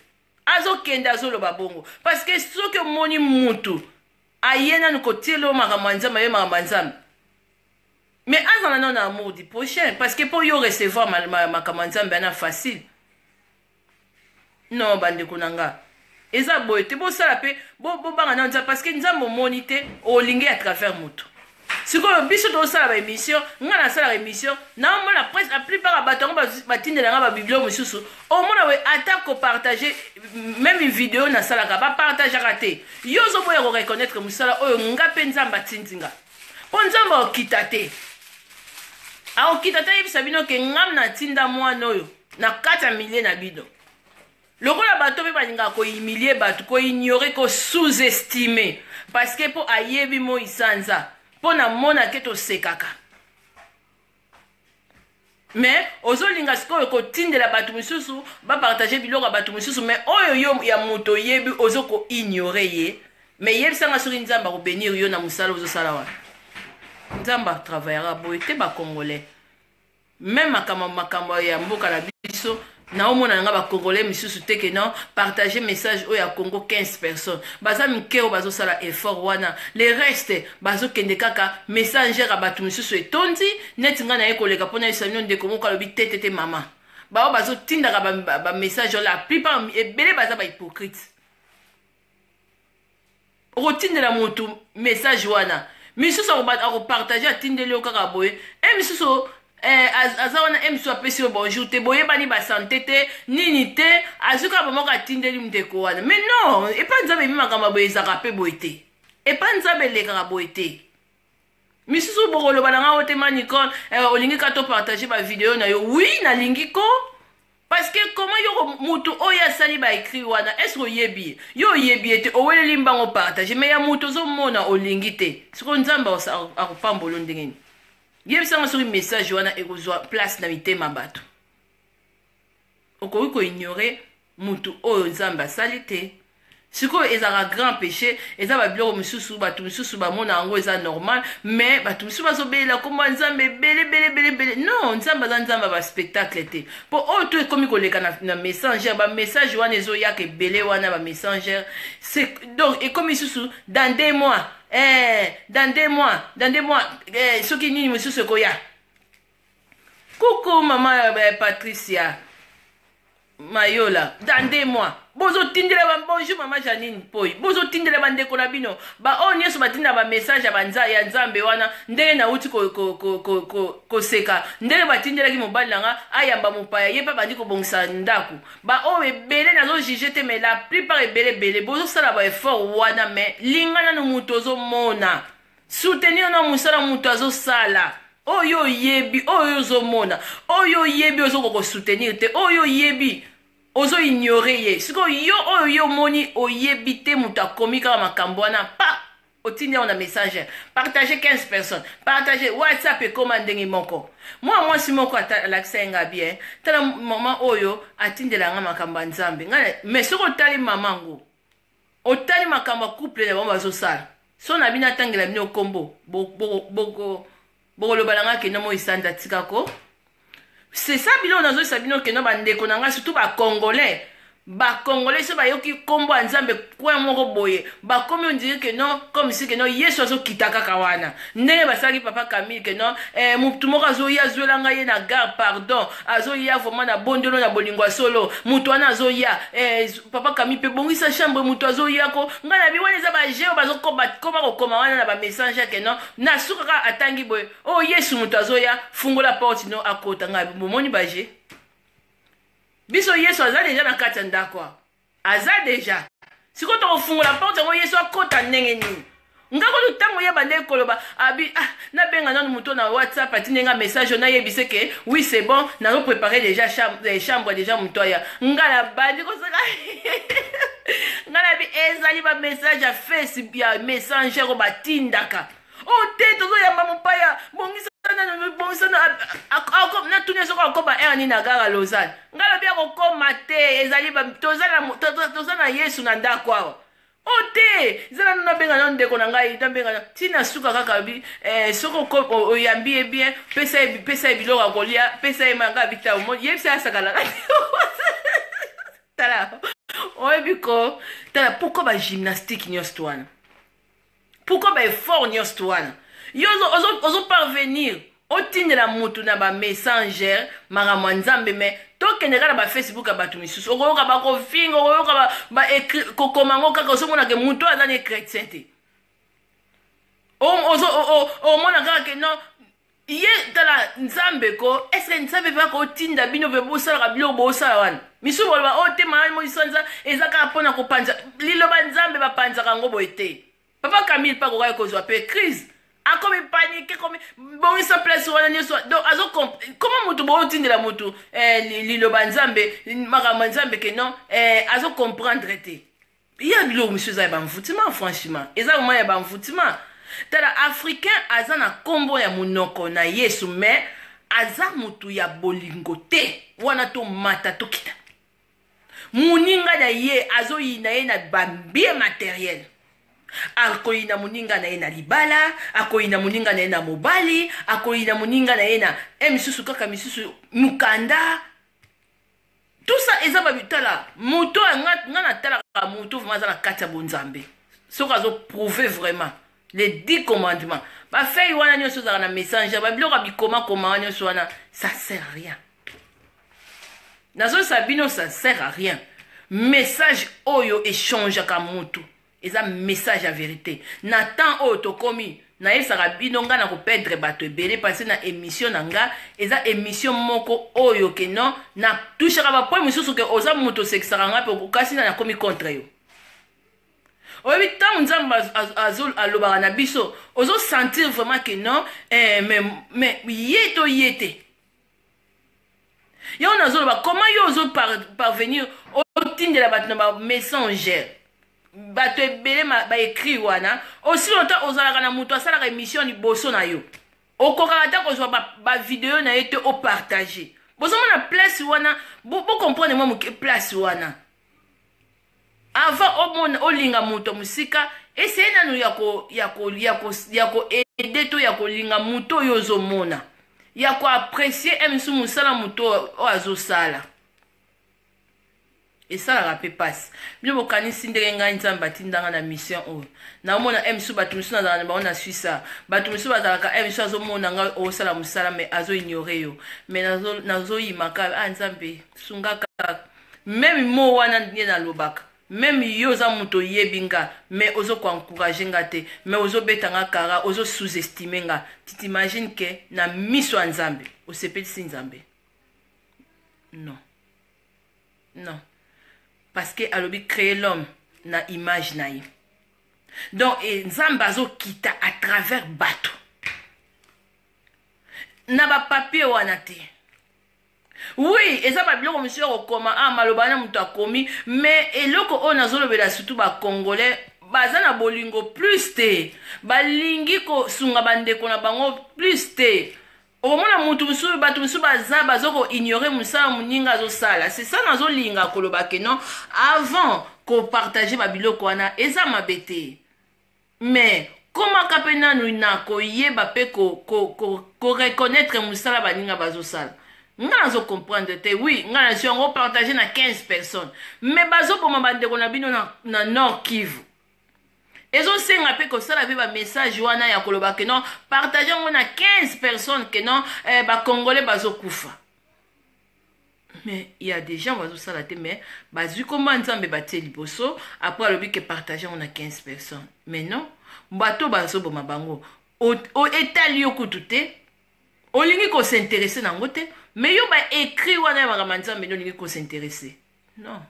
azokende azoloba bongo parceke soki omoni mutu aye nanu kotiela yo makambo ya nzambe aye makambo ya nzambe me azala nano na amour du prochain parceke mpo yo recevoir makambo ya nzambe ana facile non bandeko na nga eza boye te bosala mpe bobanga na nzambe parce que nzambe omoni te olingi à travers moto sikoyo biso tosala baémission ngai nasalaka émission naomona presque la plupart ya bato yango batindela ngai babiblio mosusu omona we ata kopartage meme video nasalaka bapartageaka te yo ozoboya koreconnaitre mosala oyo ngai mpe nzambe atindi nga mpo nzambe aokita te aokita te ayebisa bino ke ngam natinda mwana oyo na kati ya milie na bino lokola bato mpe balingaka kohumilie bato koignore ko sous-estime parceke mpo ayebi moi sanza mpo na mona ke tosekaka me ozolinga sikoyo kotindela bato mosusu bapartage biloko ya bato mosusu me oyo yo ya moto oyebi ozo koignore ye me yebisanga soki nzambe akobenir yo na mosala ozosala wana nzambe atravaillera boye te bacongolais Meme makambo makambo ya mboka na biso naomona na nga bacongolais misusu te ke non partage message oyo ya congo 15 personnes baza mike oyo bazosala effort wana le reste bazokende kaka messanger ya bato misusu etondi neti ngai naye koleka mpo nayebisa bino ndeko moko alobi te te te mama baoyo bazotindaka bamessage ba, ba la plupart ebele baza bahypocrite okotindela motu message wana misusu akopartage atindeli yo kaka boye e misusu eh, aza wana e misusu apesi yo bonjour te boyebani basante te nini te azwi kaka bamoko atindeli ndeko wana mais non epa nzambe ebi makambo ya boye ezalaka mpe boye te epa nzambe elekaka boye te misusu bokoloba na ngai ote ma nicole eh, olingi ka topartage bavideo na yo wi nalingi ko parce que comment yoko mutu oyo asali baekri wana est ce que oyebi ye yo oyebi ye te oweleli mbango partage mai ya mutu ozomona olingi te sikoyo nzambe akopambolo ndenge nini yebisanga soki message wana ekozwa place na mitema bato okoki ko ignorer mutu oyo nzambe asali te sikoyo ezalaka grand péché eza babiloko mosusu bato mosusu bamona yango eza normal mais bato mosusu bazobelela nkombo ya nzambe ebele bele bele bele non nzambe aza nzambe ya baspectacle te mpo oyo oh, to ekomi koleka na, na messenger bamessage wana ezoyaka ebele wana bamessanger donc ekomi susu dans deux mois eh, dans deux mois dans deux mois eh, soki nini mosusu ekoya coucou mama eh, patricia mayola dande moi bozotindela ba bonjour mama janine poi bozotindela bandeko na bino baoyo nyonso batinda bamessage ya nzambe wana ndenge nauti koseka ndenge batindelaki mobali na nga ayamba mopaya ye mpe abandi kobongisa ndako baoyo ebele nazojuge te mai la plupart ebele ebele bozosala baeffort wana mai linga nano moto ozomona Soutenir na musala mutu azo sala. Oyo yebi, oyo ozo mona, oyo yebi ozo koko soutenir te, oyo yebi ozo ignorer ye. Siko yo oyo yo moni oyebi te mutu akomi kaka makambo wana pa otindi yango na message partage 15 personnes partage whatsapp ekoma ndenge moko mwa mwasi moko alakisa ye nga bien tala mama oyo atindela nga makambo ya nzambe nga mais soki otali mama ngo Otali makambo ya couple na bango bazosala so na bino atangela bino kombo bokoloba na ngai kenda moi sanza tika ko c'est ça biloko nazoyisa bino kenda bandeko na ngai surtout bacongolais bacongolais so bayoki kombo ya nzambe coin moko boye bakomi ondire ke non comme si ke non yesu azokita kaka wana ndenge basalaki papa camille ke non eh, motu moko azoya azwela ngai ye na gare pardon azoya vraiment na bondelo na bolingo ya solo motu wana azoya eh, papa kami mpe bongisa chambre moto azoya ko ngai nabi wana eza baje oyo bazokoma kokoma wana na bamessage yake no na suka kaka atangi boye o oh, yesu moto azoya fungola porte no akota ngai bomoni baje biso yesu aza deja na kati ya ndako aza deja sikoyo tokofungola porte yango yesu akota ndenge nini nga kutu ntango ye bandeki koloba abi ah, nabenga nanu moto na whatsapp atindi nga message oyo nayebise ke oui c'est bon nazo prépare déjà chambre, eh, chambre déjà moto aya nga na bandi kosaka nga na bi ezali ba message ya face ya messenger oyo batindaka o oh, te tozoyamba mopaya bongisa nanu bongisa natuni soko akoma ere nini agara lozane nga lobi akokoma te ezali toza na yesu na ndako awa o oh, te zala nuna benga na ndeko na ngai nabenga na ntina suka kaka bi eh, soki oyambi ye bien pesa ye pesa ye biloko ya kolia pesa ye manga bitau yebisa asakalaka tala oyebi ko tala pourkoi bagymnastique nyonso wana pourkoi baeffort nyonso wana yo ozoparvenir ozo otindela mutu na ba messenger makambo ya nzambe me tokende kaka na ba facebook ya bato misusu okoyoka bakofinga okoyoka ba, ba écri- kokoma yango kaka ozomona ke mutu oyo aza ne chrétien te O- ozo- o- o- omona kaka ke non ye tala nzambe ko eske nzambe mpe akotinda bino mpe bosalaka biloko bosala wana misusu boloba oyo te mayani moisanza eza kaka mpo na kopanza liloba nzambe bapanzaka yango boye te papa camille mpe akokaki kozwa mpe crise akomi panike komi bongisa place wana nyonso donc azo koma motu bootindela motu eh, liloba nzambe makambo ya nzambe ke non eh, azo comprendre te ya biloko mosusu eza ya banvoutima franchement eza moma ya banvoutima tala africain aza na nkombo ya monoko na yesu mais aza motu ya bolingo te wana tomata tokita moninga na ye azoyina ye na bambie materiel akoyina moninga na ye na libala akoyina moninga na ye na mobali akoyina moninga na ye na e misusu kaka misusu mokanda tout ça eza babitala moto nga natalaka moto vraimen aza na kati ya bonzambe soki azoprouve vraiment les dix commandements bafei wana nyonso ezalaka na messenger babiloko ya bikomakoma wana nyonso wana ça sert à rien nazosala bino ça sert à rien message oyo echangeaka motu eza message ya verité na temps oyo tokomi nayebisaka bino ngai nakopedre bato ebele mpasi na émission na ngai eza émission moko oyo ke non natushaka bapoint mosusu ke oza moto osekisaka ngai mpe okasi na nakomi contre yo oyebi ntango nzambe alobaka na biso ozosentir vraiment ke non eh, mais ye to ye te yango nazoloba comment yo ozo parvenir otindela bato na bamessanger bato ebele baekri wana osi longtemps ozalaka na moto asalaka émission liboso na yo okokaka ata kozwa bavideo ba na ye te opartage bozomona place wana bocomprendre bo mwa moke place wana Avant omona olinga moto musika, essaye nanu ya ko ya ko ya ko ya ko aider to ya kolinga moto oyo ozomona. Ya ko apprecier un misu musala moto oyo azosala. Esalaka pe pasi. Bino bokanisi ndenge ngai Nzambe atinda ngai na mission oyo. Naomona un misu bato misu nazala na bango na Suisse awa. Bato misu bazalaka un misu azomona ngai osala musala mais azo ignorer yo. Mais nazo nazoyima kaka ah Nzambe sunga kaka. Meme mot wana nde nalobaka. Meme yo oza mutu oyebi nga mais ozo ko encourager nga te mais ozo beta nga kara ozo sous estime nga tu t'imagine que na miso ya nzambe osepelisi nzambe non non parce que alobi cree l'homme na image na ye donc e, nzambe azokita à travers bato na bapapier wana te Oui, eza ba biloko misusu ya kokoma ah maloba wana moto akomi mais eloko oyo nazolobela surtout ba congolais baza na bolingo plus te balingi kosunga bandeko na bango plus te okomona mutu mosusu bato mosusu baza bazo koignore mosala moninga azosala c'est ça nazolinga koloba ke non avant kopartage babiloko wana eza mabe te Mais komaka pe nanu na ko yeba pe ko ko ko ko reconnaitre musala baninga bazo sala. Nga nazo comprendre te oui nga nazui yango partage na 15 personnes mais bazo boma ba ndeko na bino na na nord kivu ezo senga pe ko sala pe ba message wana ya koloba que non partage yango na 15 personnes que non eh, ba congolais bazo kufa. mais il y a des gens bazosala te mais bazwi koma nzambe batie liboso après alobi ke partage yango na 15 personnes mais non bato bazoboma bango etali yo kutu te olingi kosinteresse na yango te mais yo baécrit wana ya makambo ya nzambe nde olingi kosinteresse non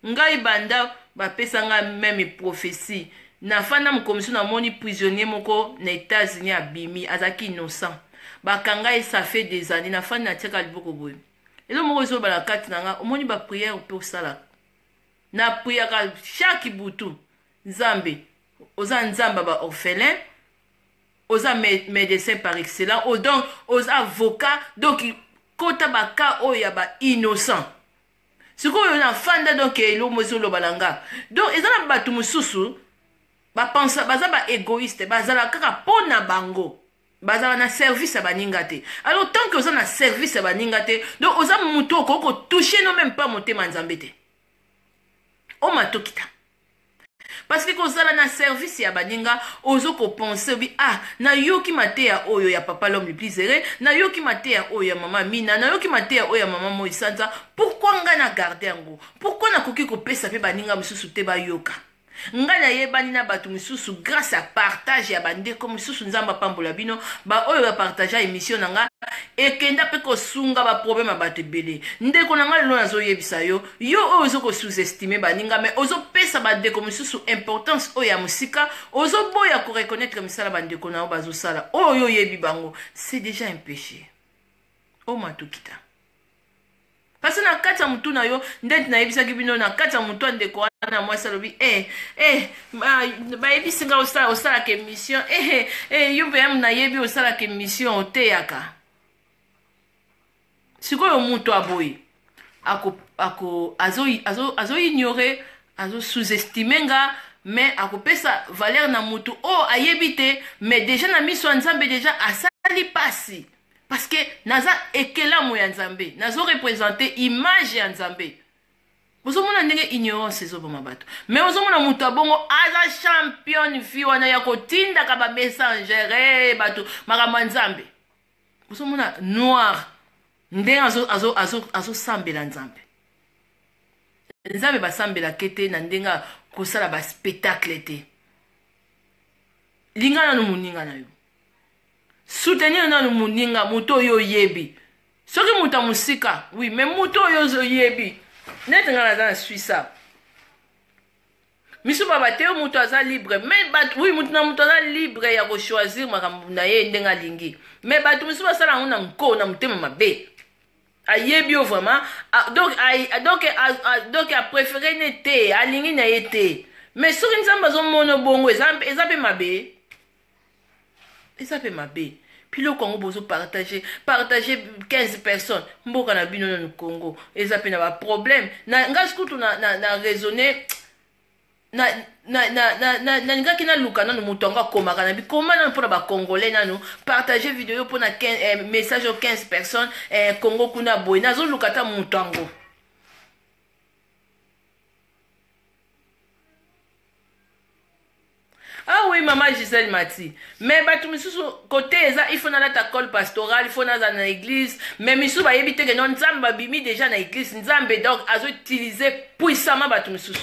Ngai banda ba pesa nga meme prophetie na fandi na mokomiso na moni prisonnier moko na etats unis abimi azalaki innocent ba kanga ye ça fait des annees na fandi na tiaka liboko boye elo moko ezo bala kati na nga omoni ba prière pe osalaka na priaka chaque butu nzambe oza nzamba ba orphelin oza médecin par excellent donc oza avocat donc kota ba cas oyo ya ba innocent sikoyo na fanda donc eloko mo ezoloba na nga donc eza na bato mosusu bapensa baza ba égoïste bazala kaka mpo na bango bazala na service ya baninga te alors tant que oza na service ya baninga te donc oza moto okoki kotouche no meme mpa motema nzambe te omatokita Parce que kozala na service ya baninga ozo ko penser obi ah nayoki mateya oyo ya papa l'homme le plus heureux, nayoki mateya oyo ya mama Amina, nayoki mateya oyo ya mama Moi Sanza, pourquoi ngai na garder yango? Pourquoi nakoki kopesa mpe baninga mosusu te bayoka? ngai nayebani na bato mosusu grâce ya partage ya bandeko mosusu nzambe apambola bino baoyo bapartagea émission na ngai ekenda mpe kosunga baproblème ya bato ebele ndeko na ngai lelo nazoyebisa yo yo oyo ozo ko sous estime baninga mais ozo pesa ba ndeko mosusu importance oyo ya mosika ozo boya ko reconnaître misala ba ndeko na yo bazo sala oyo yo oyebi bango c'est déjà un péché o matukita parce na kati ya motu na yo ndeti nayebisaki bino na kati ya motu ya ndeko wana mwasi alobi eh, eh, bayebisi nga osala, osalaka émission eh, eh, eh, yo mpe nayebi osalaka émission oteyaka sikoyo moto ya boye ako, ako, azo, azo, azo ignore azo sous-estime nga mais akopesa valeur na moto oyo oh, ayebi te mais deja na miso ya nzambe deja asali pasi parce que naza ekelamo ya nzambe nazo represente image ya nzambe ozomona ndenge ignorance ezoboma bato mais ozomona moto ya bongo aza championne vi wana ya kotindaka bamessangere eh, bato makambo ya nzambe ozomona noir ndenge azosambela azo, azo, azo, azo nzambe nzambe basambelaka te na ndenge kosala baspectacle te linga nano moninga na yo soutenir nano moninga moto oyo oyebi soki moto ya mosika wi me moto oyo oyebi neti ngai naza na swisa misu ba bate yo mutu aza libre mais bato oui mutu na mutu aza libre ya ko choisir makambo na ye ndenge alingi mais bato misu basala yango na nko na motema mabe ayebi yo vraiment ah, donc ah, donc ah, donc apréféré ne te alingi na ye te mais soki nzambe azomona bongo eza mpe mabe eza mpe mabe biloko yango bozo partage partage 15 personnes mboka na bino nanu congo eza mpe na baproblème na ngai kutu na, na, na raisonne nalingaki naluka nanu moto yango akomaka na bikoma nanu mpona bacongolais nanu partage video mpona eh, message oyo 15 personnes eh, congo kuna boye nazoluka ata moto yango ah oui mama gisele mati me bato misusu kote eza ifo nalata cole pastoral ifo naza na eglise me misusu bayebi te keno nzambe babimi deja na eglise nzambe donc azoutilize puissamment bato misusu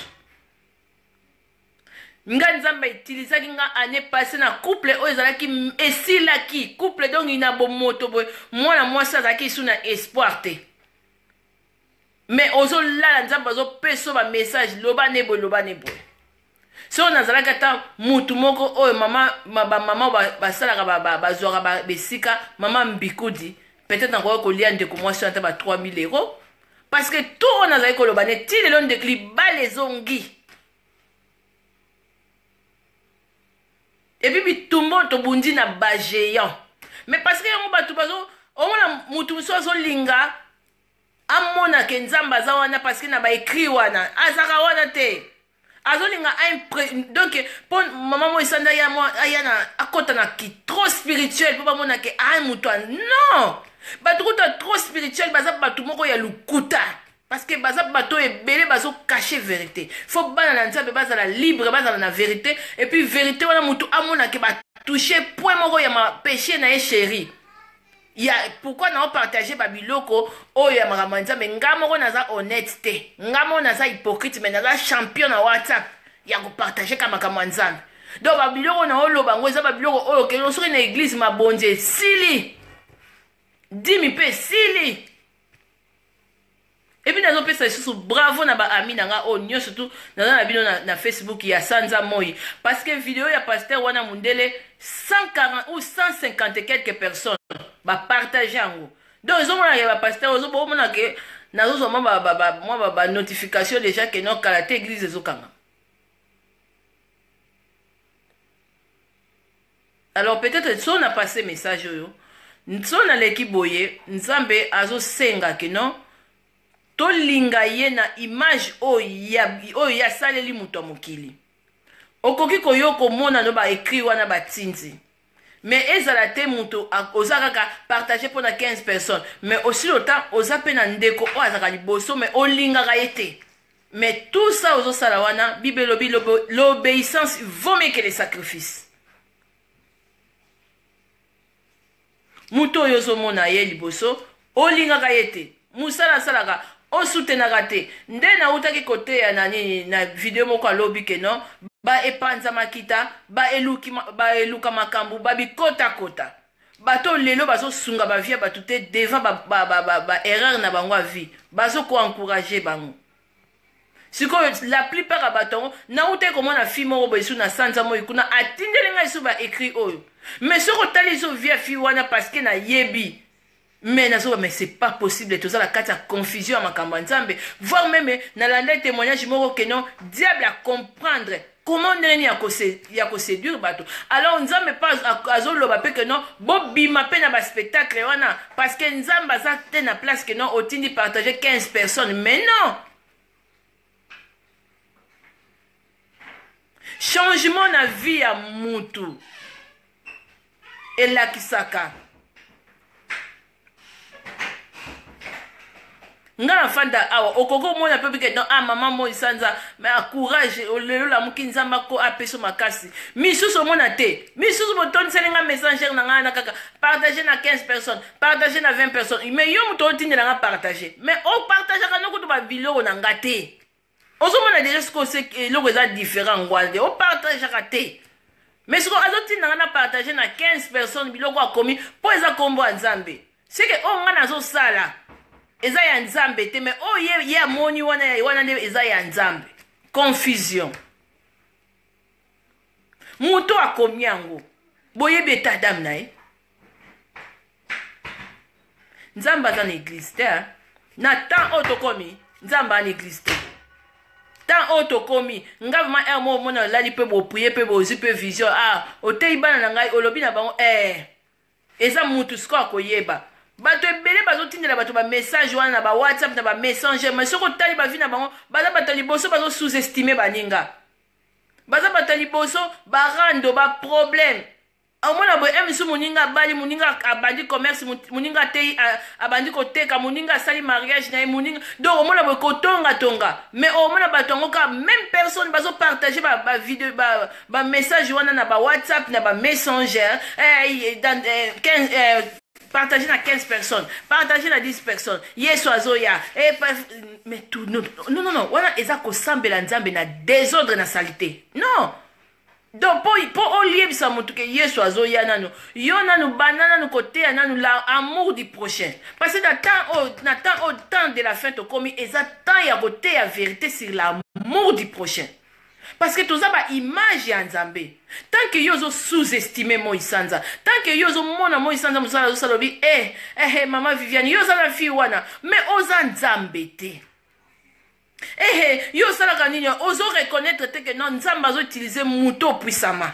nga nzambe autilisaki nga année passé na couple oyo ezalaki esilaki couple donc ina bomoto boye mwana mwasi azalaki esu na espoir te me ozolala nzambe azopesa ba message loba ne boye loba ne boye soko nazalaki ata mutu moko oyo mama bamama basalaka bazwaka besika mama mbikudi peut-être nakoki kolia ndeko mwasi wana ata ba 3000 euros parce que to oyo nazali koloba ne ti lelo ndeko libala ezongi epuis bitumba oyo tobundi na bagéant mais parce que yango bato bazo omona motu mosusu azolinga amona ke nzambe aza wana parce que na ba écrit wana azaka wana te azolinga donc mpo mama moi esanda aya na akota na ki trop spirituel mpo bamona ke a moto non bato kuta trop spirituel baza bato moko ya lokuta parce que baza bato oyo ebele bazokache verité fo bana na nzambe bazala libre bazala na verité epuis verité wana motu amonake batouche point moko ya mapeche na ye chéri ya pourquoi nao partage ba biloko oyo ya makambo ya nzambe nga moko naza honnête te nga moko naza hypocrite mais naza champion na whatsapp ya kopartage ka makambo ya nzambe donc babiloko na oloba yango eza babiloko oyo okende soki na eglize mabonzi esili dimi mpe esili epuis nazopesa lisusu bravo na baami na nga oyo nyonso tu naza na bino na, na facebook ya sanza moi parce que video ya pasteur wana mundele 140 ou 150 quelque personnes bapartage yango donc ezomonaka ya bapasteur ozobomona ke nazozwa mwa banotification déjà ke no kala te eglise ezokanga Alors peut etre nson a passe message oyo nson aleki boye nzambe azo senga que non tolinga ye na image oyo ye asaleli moto ya mokili okoki koyo komona no ba écrit wana batinzi mais ezala te moto oza kaka partage mpo na 15 personnes mais osili ota oza mpe na ndeko oyo azalaka liboso mais olingaka ye te Mais tout ça ozo sala wana Bible lobi l'obéissance vaut mieux que les sacrifices. Moto oyo ozomona ye liboso olingaka ye te mosala asalaka osutenaka te nde nautaki koteya na nini na video moko alobi ke non baepanza makita baeluka makambo babikotakota Bato oyo lelo bazo sunga ba vie ya bato te devant ba ba ba ba ba erreur na bango ya vie bazo ko encourager bango sikoyo la plupart ya bato yango nautaki komona fille moko boye su na sanza moi kuna atindeli ngai su ba écrit oyo mais soki otali zo vie ya fille wana parceke nayebi mais na zoba mais c'est pas possible toza na kati ya confusion ya makambo ya nzambe voir meme na landa témoignage moko que non diable a comprendre comment ndenge nini ya koseduire bato alors nzambe mpe azoloba mpe que non bobima mpe na baspectacle wana parce que nzambe aza te na place que non otindi partage 15 personnes mais non changement na vie ya mutu elakisaka nga nafanda awa okoki omona mpe bike don ah mama moi sanza ah, courage lelo lamuki nzambe ako apeso makasi misusu omona te misusu botondiseli nga messengere na ngai na kaka partage na 15 personnes partage na 20 personnes mais yo moto otindela nga partage mais opartageaka no kutu babiloko na nga te ozomona deja sikoyo se eloko eza différent yango wana te opartageaka te mais sikoyo azotinda nga na partage na 15 personnes biloko akomi mpo eza nkombo ya nzambe seke oyo nga nazosala eza ya nzambe te mais oyo ye, ye amoni wana ya wana nde eza ya nzambe confusion moto akomi yango boyebi etadame na ye nzambe aza na eglise te na temps oyo tokomi nzambe aza na eglise te temps oyo tokomi nga vraimen heure moko omona olali mpe boprie mpe bozwi mpe vision ah oteyi bana na ngai olobi na bango eh eza mutu siko akoyeba bato ebele bazotindela bato bamessage wana na bawhatsapp na bamessanger mai soki otali bavi na bango baza bato ya liboso bazo sous-estime baninga baza bato ya liboso barando baproblème omona boye eh, misu moninga abali moninga abandi commerce moninga ateyi abandi koteka moninga asali mariage na ye moninga donc omona boye kotongatonga mais omona bato yango kaka même personne bazopartage bavideo ba, ba, message ba wana na bawhatsapp na bamessanger eh, dans, eh, 15, eh, partage na 15 personnes partage na 10 personnes yesu azoya eh, mais tout non non non wana eza kosambela nzambe na desordre na salite non donc po, po oliebisa motu ke yesu azoya nanu yo nanu banda nanu koteya nanu la amour du prochain parce que na temps oyo na temps oyo temps de la fin tokomi eza temps ya koteya verité sur l'amour du prochain parce que toza ba image ya nzambe tant que yo ozo sous estime moi sanza tant que yo ozomona moi sanza mosala azosala obi e eh, eh, eh, mama viviane yo oza na fille wana mais oza nzambe te Ehe, yo osalaka nini? Ozo reconnaître te que non, Nzambe azo utiliser moto opuisama.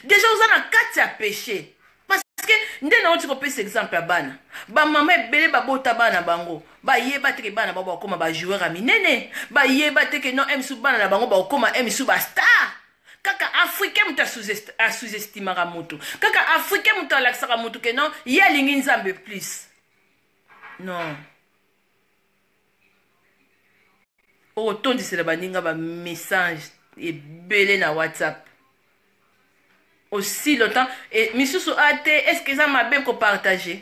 Déjà oza na kati ya péché. Parce que nde na oti kopesa exemple ya bana. Ba mama ebele babota bana bango. Ba yeba te que bana bango bakoma ba joueur ya minene. Ba yeba te que non, MSU bana na bango bakoma MSU ba star. Kaka africain moto a sous-estimaka moto. Kaka africain moto alakisaka moto que non, ye alingi Nzambe plus. Non. okotondisela baninga bamessage ebele na whatsapp aussi longtemps e, misusu a te est ce que eza mabe kopartage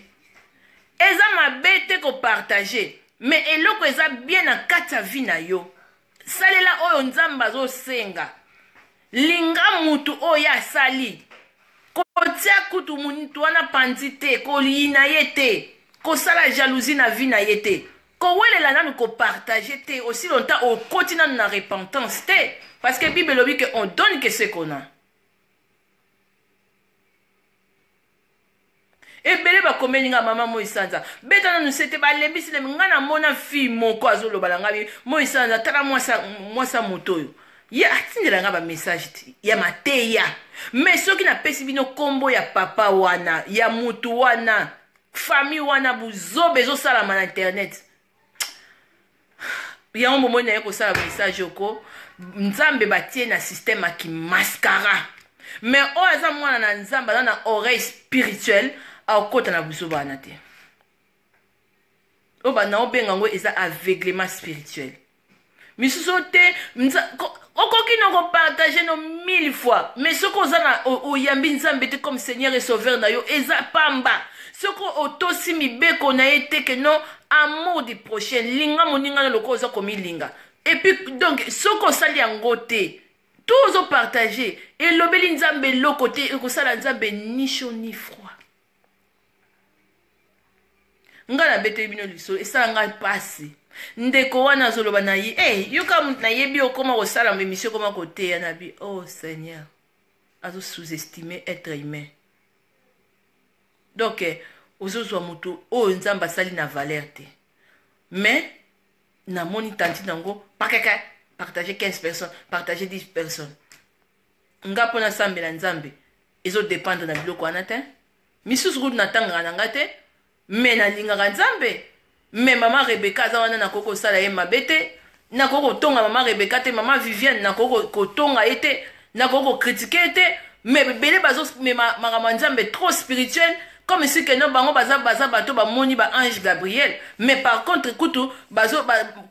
eza mabe te kopartage mais eloko eza bien na kati ya vie na yo salela oyo nzambe azosenga linga mutu oyo ye asali kotia kutu mutu wana panzi te koliyina ye te kosala jalousie na vie na ye te kowelela nanu kopartage te osi lonta okoti nanu na repentance te parce que bible elobi ke on donne ke se kona ebele bakomeli nga mama moi sanza beta nanu sete balembisi lembi nga namona fille moko azoloba na ngai moi sanza tala mwasa moto oyo ye atindela nga bamessage ya mateya me soki napesi bino nkombo ya papa wana ya motu wana famille wana buzoba ezosalama na internet yango momoi na ye kosala message oko nzambe batie na systeme ya kimaskara me oyo aza mwana na nzambe aza na oreille spirituelle akokota na buzoba wana te oyo banda obenga yango eza aveuglement spirituel misusu te okoki na kopartage no mille fois mais soki oza na oyambi nzambe te comme seigneur et sauveur na yo eza pamba soki otosi mibeko na ye te ke non amour du prochain linga moninga na lokola oza komilinga epuis donc soki osali yango te to ozopartage elobeli nzambe eloko te ekosala nzambe ni chaud ni froid nga nabeteli bino lisolo esala ngai mpasi ndeko wana azoloba na ye hey, eh, yoka moto nayebi okoma kosala emisio okoma koteya na bi oh seigneur azo sous-estime être humain donc eh, ozozwa moto oyo nzambe asali na valeur te mais namoni tanti nango pakaka partage 15 personnes partage 10 personnes nga mpo nasambela nzambe ezo dependre na biloko wana te misusu kutu natangaka na nga te me nalingaka nzambe me mama rebeka aza wana nakoki kosala ye mabe te nakoki kotonga mama rebeka te mama viviane nakoki kotonga ye te nakoki kokritike ye te me ebele bazomema makambo ya nzambe trop spirituel comme si keno bango baza baza bato bamoni ba ange gabriel mais par contre kutu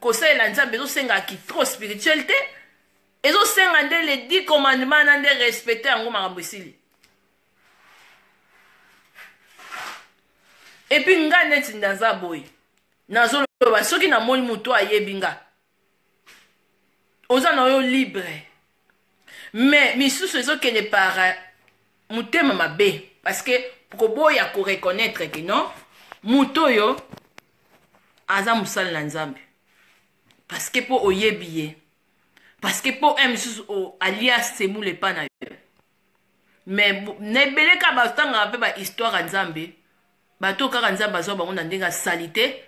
kosalela nzambe ezosengaki trop spirituel te ezo senga nde le dit commandement na nde respecte yango makambo esili epuis nga neti nde aza boye nazoloba soki namoni moto ayebi nga oza na yo libre mais misusu ezokende par euh, motema mabe parce que koboya koreconnaitre ke non moto oyo aza mosali na nzambe parce que mpo oyebi ye parce que po un mosusu oh, alia semoule epa na yo mais na ebele kaka batangaka mpe bahistoire ya nzambe bato oyo kaka nzambe azwa bango na ndenge ya salite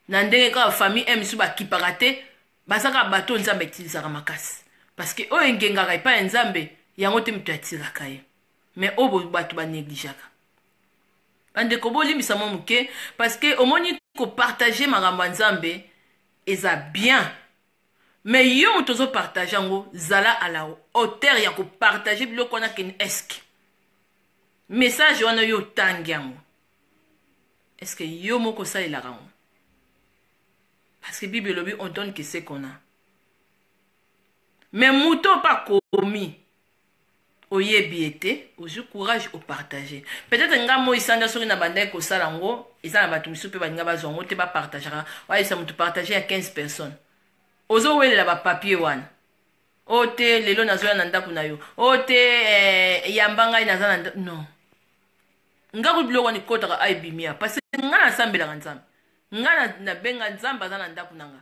na ndenge kaka famille un mosusu bakipaka te baza kaka bato oyo nzambe atilisaka makasi parce que oyo engengaka epai ya nzambe yango te moto atiraka ye mais oyo bato banegligeaka bandeko bolimbisa mwa moke parce que omoni kopartage makambo ya nzambe eza bien Mais yo moto ozo partage yango zala à la hauteur ya ko partager biloko wana ken esk message wana yo otangi yango eske yo moko osalelaka yango parce que bible elobi on donne que ce qu'on a mais moto ope akomi oyebi ye te ozwi courage opartage peut-être nga moi sanja soki nabandaki kosala yango eza na bato mosusu mpe balinga bazwa yango te bapartagaka oyebisa moto partage ya 15 personnes ozowelela bapapier wana o oh, te lelo nazoya na ndako na yo o oh, te eh, yamba ngai naza na ndako non nga kutu biloko wana ekotaka aibimia parce nga nasambelaka nzambe nga nabenga nzambe aza na ndako na nga